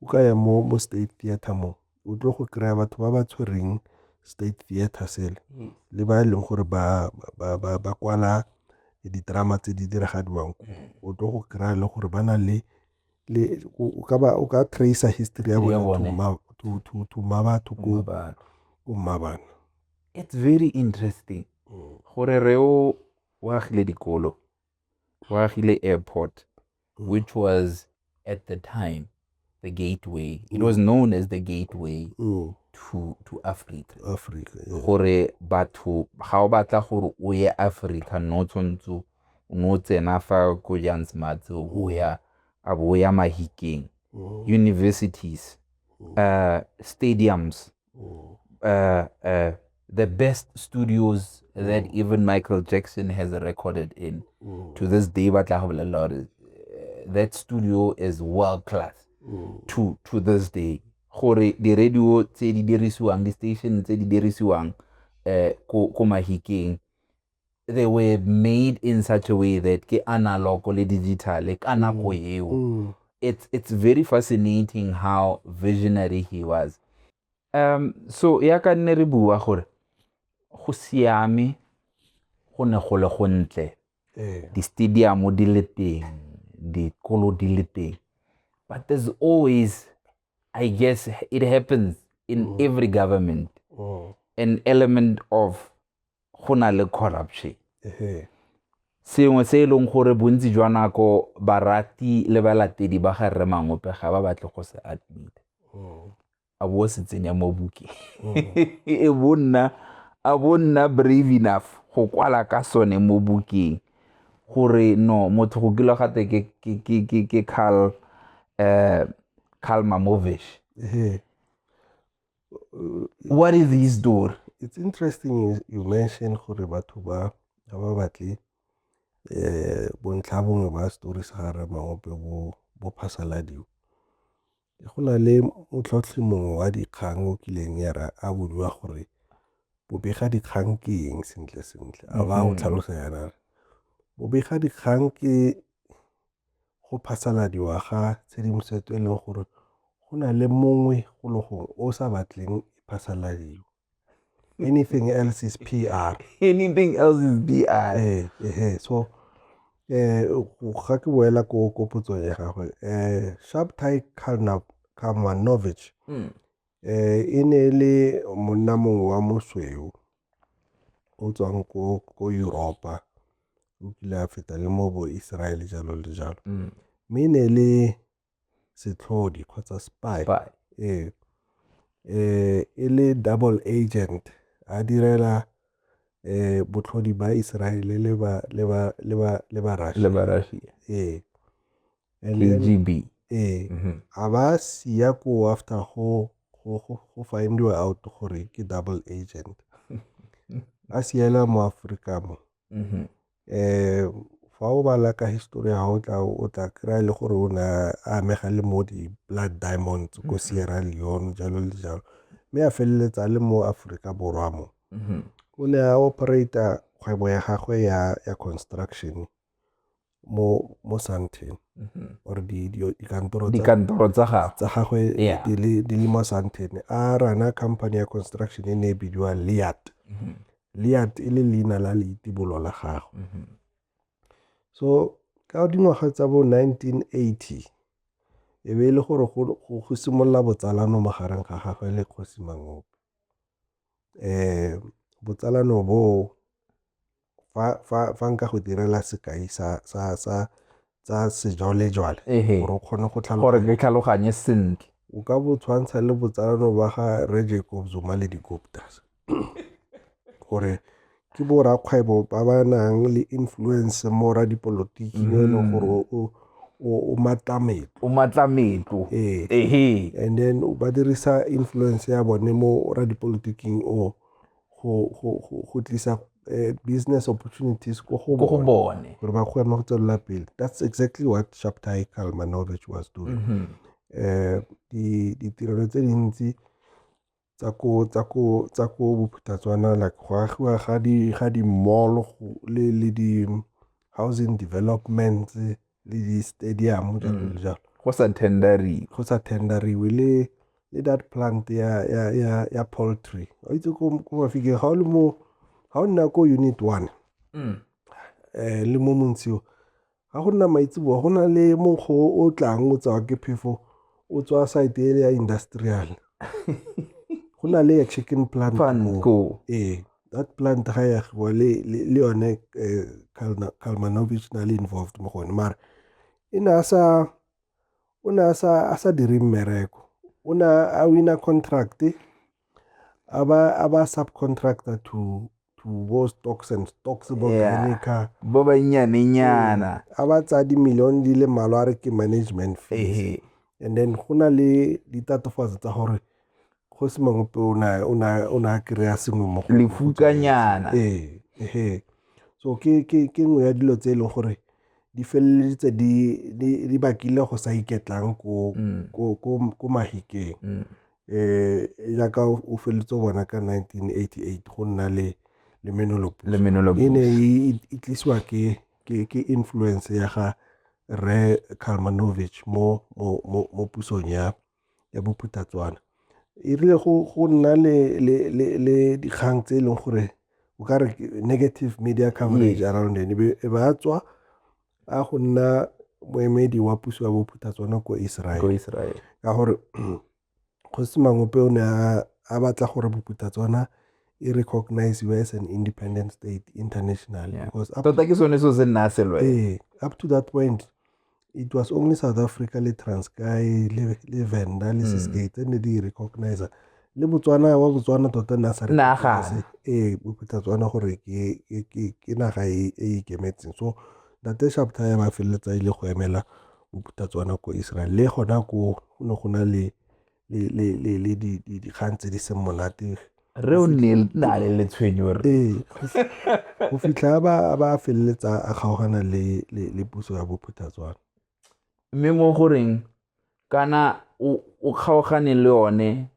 o ka ya mo mo state theater mo o tlo go kry-a batho ba ba tshwereng state theater sele mm. le ba e leng gore ba kwala ditrama tse di diragadiwang o tlo go kry-a le gore ba na le o ka tracer history ya bone to ma batho ko mmabana it's very interesting mm. gore re o o agile dikolo go agile airport which was at the time the gateway it was known as the gateway mm. to, to africa africa yeah. gore batho ga o batla gore o ye africa no tshwanetse o no tsena fa ko jansmart o ya a bo ya mahikeng mm. universities mm. uh, stadiums oh. uh, uh, the best studios mm. that even Michael Jackson has recorded in. Mm. To this day, but uh, that studio is world class. Mm. To to this day, gore the radio tse di dirisiwang, di station tse di dirisiwang eh ko ko mahikeng they were made in such a way that ke analog le digital ka mm. nako eo mm. it's it's very fascinating how visionary he was um so ya ka nne re bua gore go siame go ne go le gontle eh. di-stadium di le teng dikolo di le teng but there's always I guess it happens in mm. every government. Mm. An element of go na le corruption. sengwe se e leng gore bontsi jwa nako barati le balatedi ba ga rre mangope ga ba batle go se admite mm. a bo se tsenya mo bukeng mm. e bonna a bonna brave enough go kwala ka sone mo bukeng gore no motho go kilwa gate ke ke ke ke ke Carl eh Carl Mamovish yeah. what is his story it's interesting you mention gore batho ba ga ba batle eh bontlha bongwe ba story sa ga ramaope bo bo phasaladiwa go na le motlhotlhi mongwe wa dikgang o kileng ya ra a bodiwa gore bobega dikgang ke eng sentle sentle a ba o mm-hmm. tlhalosa yana bobega dikgang ke go phasaladiwa ga tshedimosetso e leng gore go na le mongwe go le gongwe o sa batleng e phasaladiwa anything else is PR anything else is PR eh eh so eh ga ke boela ko ko potsong ya gagwe eh Shabtai Kalmanovich mm. eh e ne le monna mongwe wa mosweu o tswang ko ko Europa o kile a feta le mo bo Israel jalo le jalo mm. mme ne le setlhodi kgotsa spy ee e le double agent a direla eh botlhodi ba Israel le ba le ba le ba le ba Russia le ba Russia ee KGB ee mhm. a ba siya ko after go go go findiwa out gore ke double agent a siela mo Afrika mo mhm. fa o bala ka history ya gago tla o tla kry-a le gore o ne a amega le mo di-blood diamonds ko mm-hmm. sierra leone jalo le jalo mme a feleletsa le mo aforika borwa mo mm-hmm. o ne a operata kgwebo ya gagwe ya, ya construction mo mo Sandton mm-hmm. or di di dikantoro di kantoro tsa gagwe tsa gagwe di le di le mo Sandton a rana company ya construction e ne e bidiwa Liat Lead e le leina la leitibolo la gagwe. So ka dingwaga tsa bo nineteen eighty, e be e le gore go simolola botsalano magareng ga gagwe le kgosi Mangope. Botsalano bo fa nka go direla sekai sa sejwalejwale gore o kgone go tlhaloganye sentle. O ka bo tshwantsha le botsalano ba ga Rre Jacob Zuma le di-Guptas. gore ke bo rakgwebo ba ba nang le influence mo radipolotiki yo e leng gore o- o- o matla metlo o matla metlo Ee. ehe and then ba dirisa influence ya bone mo radipolotiking o go, go, go, go tlisa eh, business opportunities ko go ko go bone bone gore ba kgone go tswelela pele that's exactly what shaptai kalmanovich was doing Mhm. eh di- ditirelo tse dintsi tsa ko bophuthatswana like go agiwa ga di-mall le di-housing developments le di-stadium jalo le mm. jalo go sa tenderiwe go sa tenderiwe le le that plant ya ya ya ya poultry o itse ko ko mafike ga o le mo ga o nna ko unit 1 mm. eh le mo montsio ga go nna maitseboa go na le monkgo o tlang o tsawa ke phefo o tswa site ele ya industrial go na le ya chicken plant ee that plant ga ya go le le yone eh, Kalmanovich na le involved mo gone mara e ne a sa o ne a sa a sa dire mmereko o ne a wina contract a ba a ba subcontractor to to bo stocks and stocks bo kanika bo ba nyane nyana a ba tsa di million di le malwa re ke management fees and then go na le ditatofatso tsa gore go se mangwe pe o na kry-a sengwe mo lefukanyana ee so ke ke ke nngwe ya dilo tse e leng gore di feleleditse di di bakile go sa iketlang ko mm. ko ko ko mahikeng mm. jaaka o feleletse o bona ka 1988 go nna le le menolopo le menolopo e ne e tlisiwa ke ke ke influence ya ga re Kalmanovich mo mo mo mo pusong ya ya bophutatswana e rile go go nna le le le le dikgang tse e leng gore o ka re negative media coverage around ene e ba tswa a go nna moemedi wa puso ya bophutha tsone ko Israel ka gore kgosi mangope o ne a batla gore bophutha tsona e recognize you as an independent state international yeah. because tota ke sone so se nna selwe eh, up to that point it was only south africa le transkai le, le venda le mm. sisgate tse ne di recognize le Botswana wa Botswana tota ne a sa nagane ee o phutha Tswana gore ke naga e, e ikemetseng so ntate Shabda ya ba feleletsa ile go emela o phutha Tswana ko Israel le gona ko go ne go na le le dikgang tse di seng monate re o nne na le letshwenyo re ee go fitlha ba ba feleletsa a kgaogana le le puso ya bophuthatswana mme mo goreng kana o kgaogane le one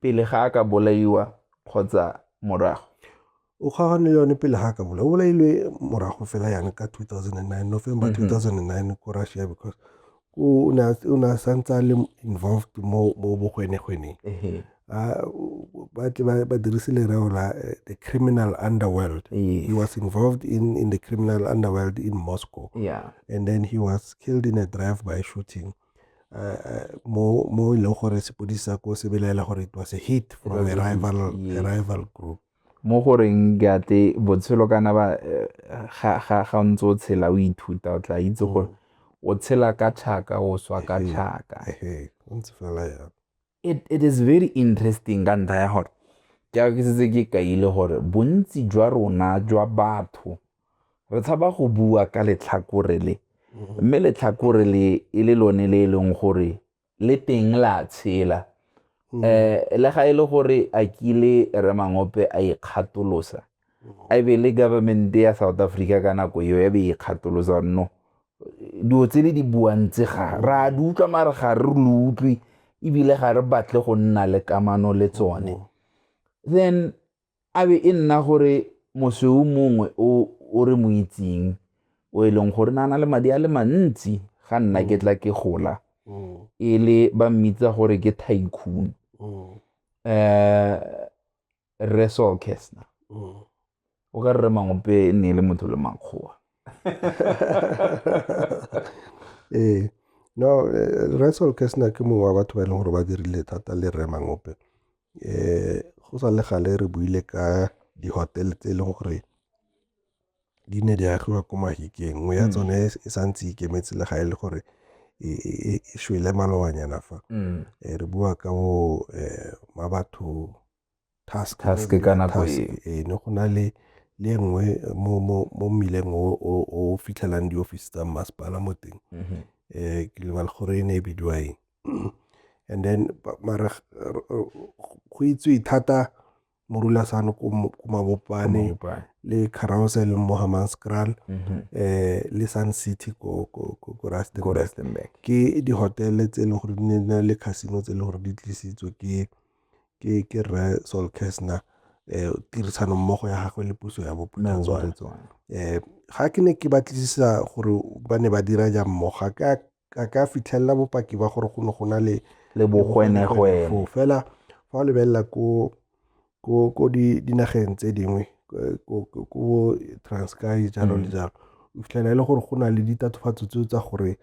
pele ga a ka bolaiwa kgotsa morago? O kgaogane le yone pele ga a ka bolaiwa. O bolailwe morago fela yana ka 2009, November 2009 mhm. ko Russia because o ne a santse a le involved mo bogwenegweneng. ba dirise lereo la eh, the criminal underworld yes. he was involved in, in the criminal underworld in moscow yeah. and then he was killed in a drive by shooting uh, uh, mo mo e leng gore sepodisi sa ko se belaela gore it was a hit from a rival, yes. a rival group mo goreng ke ate botshelo kana ba eh, ga o ntse o tshela o ithuta o tla itse mm. gore o tshela ka tlhaka o swa ka tlhaka o ntse fela ya It is very interesting ka ntlha ya gore ke a ke setse ke kaile gore bontsi jwa rona jwa batho re tshaba go bua ka letlhakore le mm-hmm. mme letlhakore le e le lone le e leng gore le teng la tshela um le ga e le gore a kile remangope a ikgatolosa a e be le government-e ya South Africa ka nako eo ya be e kgatolosa no dilo tse le di buang tse ga ra di utlwa mare ga re lo utlwe ebile ga re batle go nna le kamano le tsone oh. then a be e nna gore mosweu mongwe o re mo itseng o e leng gore na na le madi a le mantsi ga nna ke tla ke gola oh. e le ba mmitsa gore ke tycoon um rre Saul Kessner mm. o ka rre mangope e ne e le motho le makgowa ee no eh, rre Saul Kessner ke mongwe wa batho ba e leng gore ba dirile thata le rre mangope um go sa le gale re buile ka di-hotel tse e leng gore di ne di agiwa ko Mahikeng, nngwe ya mm. tsone e sa ntse ikemetse le ga e le gore e, e, e, e shwele malobanyana fa mm. eh, re bua ka bo eh, ma batho task ka nako e ne go na le le nngwe mo mo mo mmileng o o fitlhelang di office tsa masepala mo teng um mm-hmm. eh, ke lebala gore e ne e bidiwa eng and then mara go itswe thata Morulasan ko Mabopane le Carousel mo Hammanskraal mhm. eh le Sun City ko ko ko Rustenburg ke di hotel tse le gore di ne le casino tse le gore di tlisitswe ke ke ke re Sol Kesna eh tirisano mmogo ya gagwe le puso ya Bophuthatswana eh ga ke ne ke batlisisa gore ba ne ba dira jang mmogo ga ka ka ka fitlhelela bopaki ba gore go ne go na le le bogwenegwene foo fela fa o lebelela ko ko ko di dinageng tse dingwe eh, ko ko- ko bo transkai jalo le jalo o fitlhela e le gore go na le ditatofatso tseo tsa gore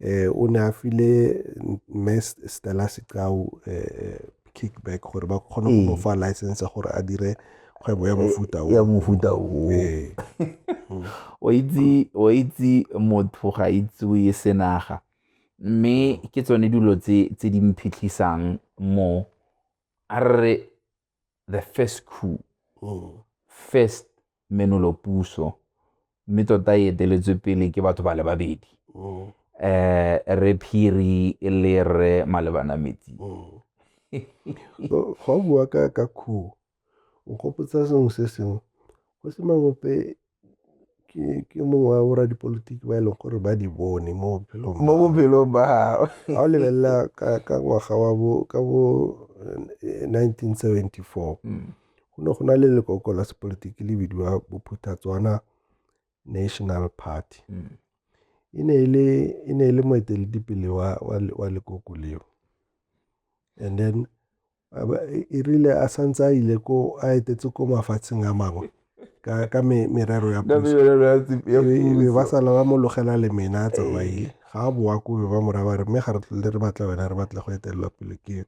um o ne a file mme stella sekao um kickback gore ba kgone go mofa ee. license ya gore a dire kgwebo ya ee, mofuta o ya mofuta o ee. o itse o itse motho ga itsewe senaga mme ke tsone dilo tse tse di mphitlhisang mo a re the first coup mm. first menolopuso mme tota e eteletswe pele ke batho ba le babedi mm. eh re phiri e le re malebana metsi mm. fa o bua ka ka khuo o gopotsa sengwe se sengwe go se mangope ke mongwe wa bora dipolotiki ba e leng gore ba di bone mo bophelong mo bophelong ba gago ga o lebelela ka ngwaga wa bo ka bo 1974 eh, mm. go ne go na le lekoko la sepolotiki le bidiwa bophuthatswana national party mm. e ne e le moeteledipele wa, wa, wa lekoko leo and then e rile a santse a ile ko a etetse ko mafatsheng a mangwe ka, ka me, merero ya puso ba sala ba mo logela le mena a tsamaile ga a boa ko be ba moraba re mme ga re tlole re batla wena re batla go etelela pele ke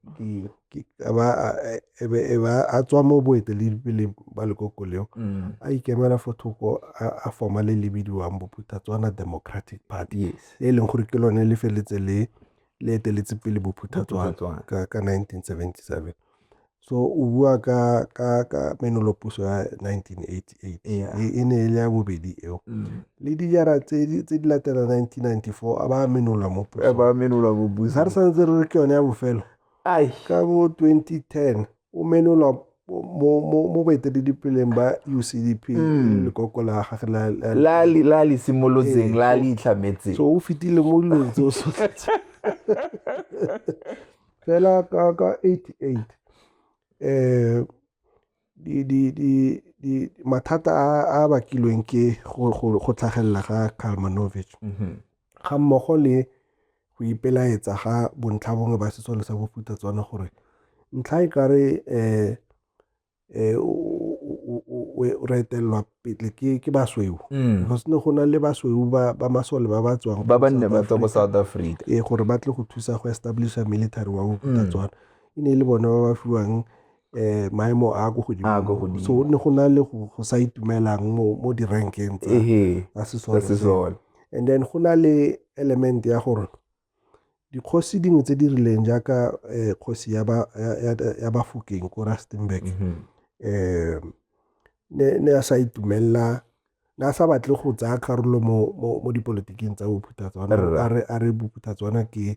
a ba a, e- e be- e ba a tswa mo boeteledipeleng ba lekoko leo Mm. a ikemela fo thoko a a forma le le bidiwang bophuthatswana democratic party Yes. e leng gore ke lone le feletse le le eteletse pele bophuthatswana Bophuthatswana. ka ka 1977 so o bua ka ka ka menolopuso ya 1988 Yeah. e e ne e le ya bobedi eo Mm. le dijara tse di tse di latela 1994 a ba menola mo pusong. ba menola bobusa ga re santse re re ke yone ya bofelo ka bo 2010 o menolwa mo baeteledipeleng ba ucdp hmm. lekoko la gage la le simolotseng la le itlhametseng so o fetile mo dilong tse o sotletse fela ka 88 um eh, mathata a a bakilweng ke go tlhagelela ga Kalmanovich mm-hmm. ga mmogo le go ipelaetsa ga bontlhabongwe ba sesole sa bofuta tswana gore ntlha e kare um eh, o retelelwa pele ke basweu mm. go sene go na le basweu ba masole ba ba tswang ba ba nne ba tswa ko south africa ee gore ba tle go thusa go establisha military wa bophutatswana mm. e ne e le bone ba ba fiwang eh, maemo a ko godimo so ne go na le go sa itumelang mo di-rankeng tsa sesole and then go na le element ya gore dikgosi dingwe tse di rileng jaaka um kgosi ya bafokeng ko rustenburg um mhm. eh, ne a sa itumelela ne a sa batle go tsaya karolo mo dipolotiking tsa bophuthatswana a re bophuthatswana ke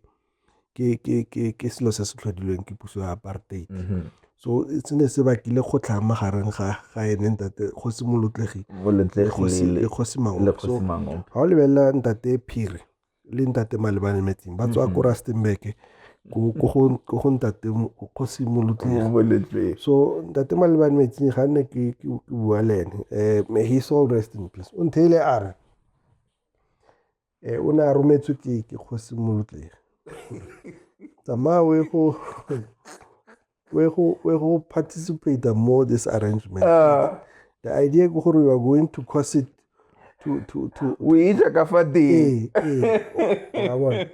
ke selo se se tlhodilweng ke puso ya apartheid mhm. so e se ne se bakile go tlhang magareng ga ga ene ntate kgosi molotlegi le kgosi mango so ga o lebelela ntate phiri le ntate malebane metsing ba tswa mhm. ko rustenburg ko go ntate go simolotleng so ntate malebane metsing ga nne ke bua le ene um he soul rest in peace o ntheile a re Ee, o ne a rometswe ke ke kgosi molotlegi tsamaya o ye go o ye go o ye go participate mo this arrangement Ah. the idea ke gore you are going to cause it to to to o itsa ka fa teng ee ee wa bona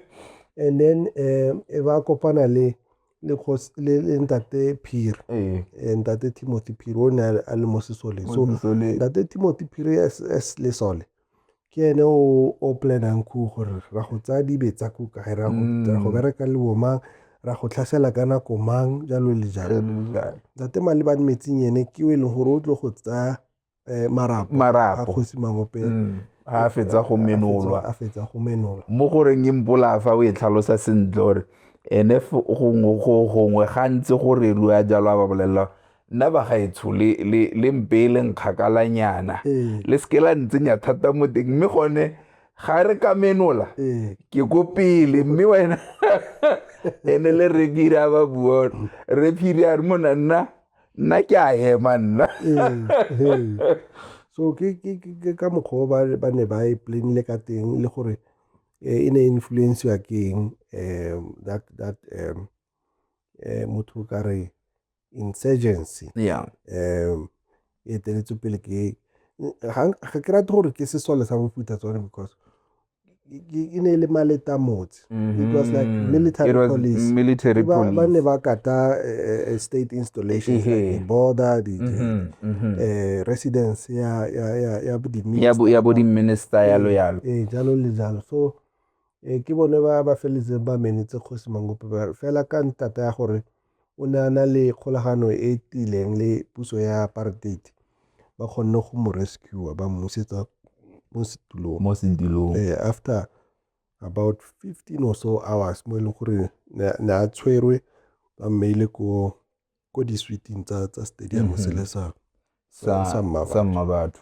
and then eh e ba kopana le le kgosi- le le ntate phiri Ee. Eh, ntate timothy phiri o ne a le- a le mo sesole so Mo sesoleng. ntate timothy phiri as as lesole ke ene o o planang ku gore ra go tsaya dibe tsa ku kae ra go ra go bereka le bomang ra go tlhasela ka nako mang jalo le jalo ntate malebane metsing ene ke o e leng gore o tlo go tsaya um marapo a Marapo. kgosi mangopeng Mm. ha a fetsa go menolwa a fetsa go menolwa mo goreng e mpolaya fa o e tlhalosa sentle gore ene f- gongwe go- gongwe gantsi gore rua jalo a ba bolelela nna bagaetsho le mpe e leng kgakalanyana ee. le seke la ntsenya thata mo teng mme gone ga re ka menola ee. ke ko pele mme wena ene le re kira ba bua re phiri a re mona nna nna ke a ema nna ee, so ke ka mokgwa o ba ne ba e planile ka teng le gore eh, e ne e influensiwa ke eng um that that um motho o ka re insurgency yeah. um e teletswe pele ke ga ke rate gore ke sesole sa mofuta tsone because e ne e le maleta motse it was like mm-hmm. military police military police ba ne ba kata eh, eh, state installations like the border the, mm-hmm, mm-hmm. Eh, residence ya ya ya ya bo di minister ya bo di minister ya lo yalo eh jalo le jalo so eh ke bone ba ba feletse ba menetse kgosi mangope fela ka ntata ya gore o ne a na le kgolagano e e tiileng le puso ya apartheid ba kgonne go mo rescue ba mmusetsa mo setulong mo setulong eh, after about 15 or so hours mo e leng gore ne a tshwerwe ba mmeile ko ko di-suiting tsa stadium mm -hmm. selesang sa Sa mma sa mma batho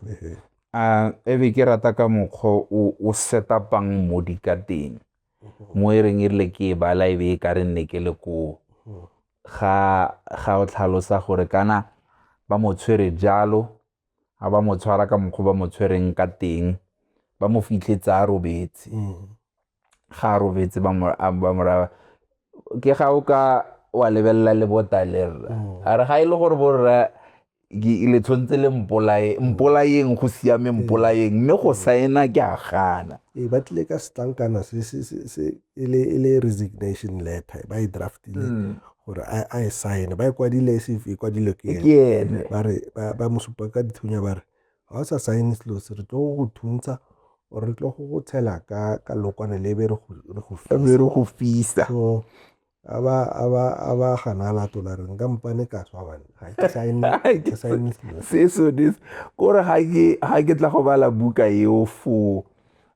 a e be ke rata ka mokgwa o o setapang modi ka teng mo e reng e rile ke e bala e be e ka re nne ke le koo ga ga o tlhalosa gore kana ba mo tshwere jalo ga ba mo tshwara ka mokgwa o ba mo tshwereng ka teng ba mo fitlhetse a robetse ga a robetse ba mo a- ba mo raya ke ga o ka wa lebelela le botale rra a re ga e le gore borra ke- le tshwanetse le mpolae mpolayeng go siame mpolayeng mme go saena ke a gana ee ba tlile ka setlankana se se- se- se- e le e le resignation letter ba e draftile gore a a e sign ba e kwadile se e kwadilwe ke ene ke ene ba re ba- ba mo supa ka dithunya ba re ga o sa sign-e selo se re tlo go thuntsha or re tlo go go tshela ka ka lokwane le be re go fisa so a ba a ba a ba gana la tola re nka mpane ka tswa bana ga ke sign ke sign se so this gore ga ke ga ke tla go bala buka eo fo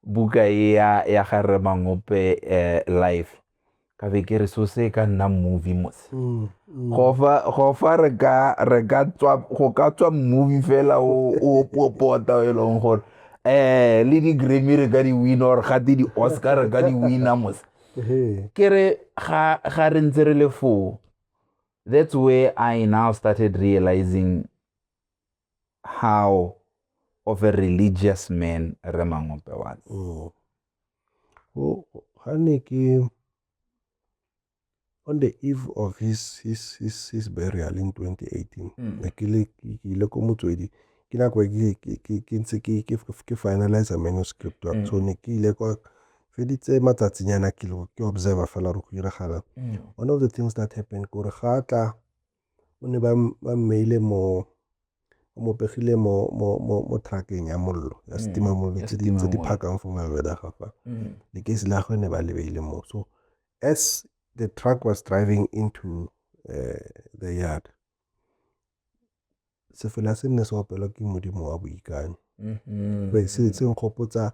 buka e ya ya ga re mangope eh, life ka be ke re so se ka nna movie mose mm, mm. go fa re ka re ka tswa go ka tswa movie fela o o popota o e leng gore eh le di Grammy re ka di win or ga di di Oscar re ka di win mose ke re ga ga re ntse re le foo that's where I now started realizing how of a religious man Remangope was. Mm. Wo ha ne ke on the eve of his his his his burial in 2018. Mm. Ne ke le ke ile ko motswedi. Ke nako e ke ke ke ke ntse ke ke ke finalize manuscript wa. Mm. So ne ke ile kwa feditse matsatsinyana ke lo ke observer fela re go iragala. Mm. One of the things that happened gore ga tla O ne ba mmeile mo, ba mo pegile mo, mo, mo, mo truck-eng ya mollo, ya mm. setima mollo, tse di, tse di phakang for mabeda ga fa. Mm. Lekesi la gagwe ne ba lebeile mo. So as the truck was driving into uh, the yard, sefela se nne se opelwa ke modimo wa boikanyo. Mm-hmm. Se se nkgopotsa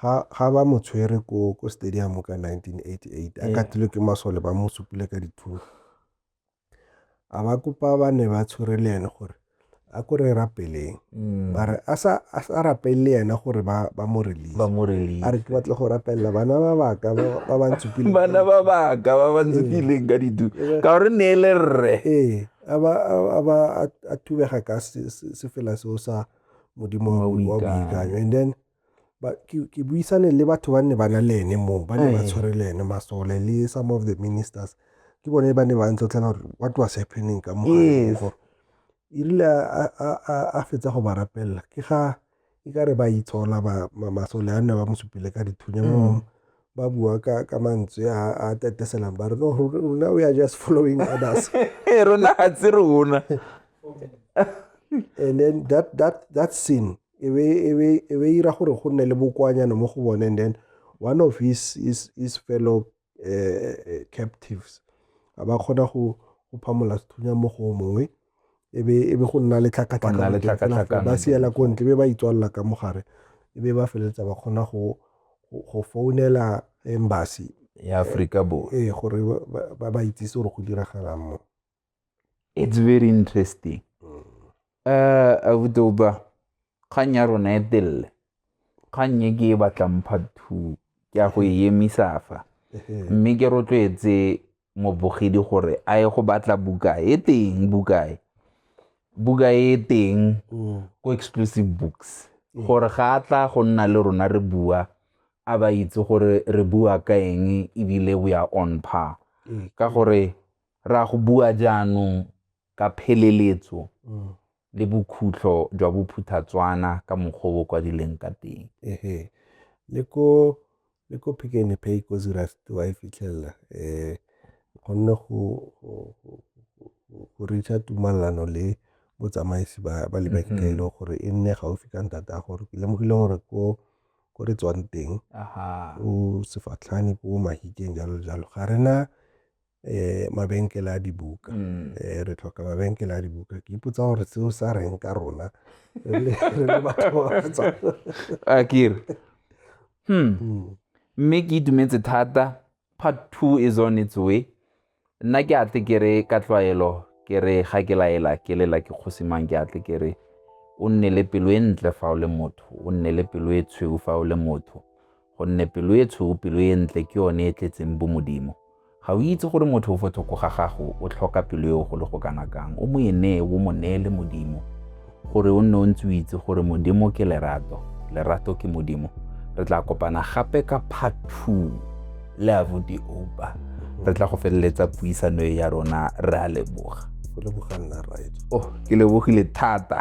ga ba mo tshwere ko ko stadium ka 1988 a katilwe ke masole ba mo supile ka dithunya a ba kopa ba ne ba tshwere le ene gore a ko re rapeleng mm. ba re a sa rapele le ene gore ba mo release a re ke batle go rapelela bana ba baka ba ba ntsupileng bana ba baka ba ba ntsupileng ka ditu ka gore ne le rre ee a ba a ba a thubega ka sefela seo sa modimo wa boikanyo and then But ke, ke buisane le batho ba ne ba na le ene moo, ba ne ba tshwere le ene masole le some of the ministers. Ke bone ba ne ba ntlotlela gore what was happening ka mo Yes. gore e rile a- a- a- a- a fetsa go ba rapelela ke ga e ka re ba itshola ba- ma- masole a ne ba mo supile ka dithunya mo ba bua ka ka mantswe a a teteselang ba re no ro- rona we are just following others Ee, rona ga tse rona and then that that that scene e be ira gore go nne le bokoanyana mo go bone and then one of his, his, his fellow uh, captives a ba kgona go phamola sethunya mo go mongwe e be go nna le tlhakatlhakano ba siela ko ntle be ba itswalela ka mogare e be ba feleletsa ba kgona go go founela embassy ya Africa Borwa eh gore ba ba itsise gore go diragalang mo it's very interesting uh, abuti opa kgang ya rona e telele kgang e ke e batlang part two ke ya go e emisa fa mme ke rotloetse mobogedi gore a ye go batla buka e teng buka e buka e teng ko exclusive books gore ga a tla go nna le rona re bua a ba itse gore re bua ka eng ebile we are on par ka gore Ra go bua jaanong ka pheleletso le bokhutlho jwa bophuthatswana ka mokgwa o bo kwadileng ka teng. Ehe. Le ko le ko Pick n Pay ko Zurafti wa e fitlhelela eh gonne go go reacha tumalano le botsamaisi ba ba lebenke e leng gore e nne gaufi ka ntata a gore ke lemogile gore ko ko re tswang teng o sefatlhane ko mahikeng jalo jalo ga rena mabenkele a dibuka, re tlhoka mabenkele a dibuka. Ke ipotsa gore seo sa reng ka rona re le batho ba ba tswang. Akere. Hmm. hmm. Mme ke itumetse thata part two is on its way. Nna ke atle ke re ka tlwaelo ke re ga ke laela ke lela ke kgosimang ke atle ke re o nne le pelo e ntle fa o le motho o nne le pelo e tshweu fa o le motho gonne pelo e tshweu, pelo e ntle ke yone e tletseng bomodimo. Ga o itse gore motho o fo thoko ga gago o tlhoka pelo eo go le go kana kang, o mo e nee, o mo neele Modimo, gore o nne o ntse o itse gore Modimo ke lerato, lerato ke Modimo. Re tla kopana gape ka part two le abuti opa re tla go feleletsa puisano e ya rona re a leboga oh ke lebogile thata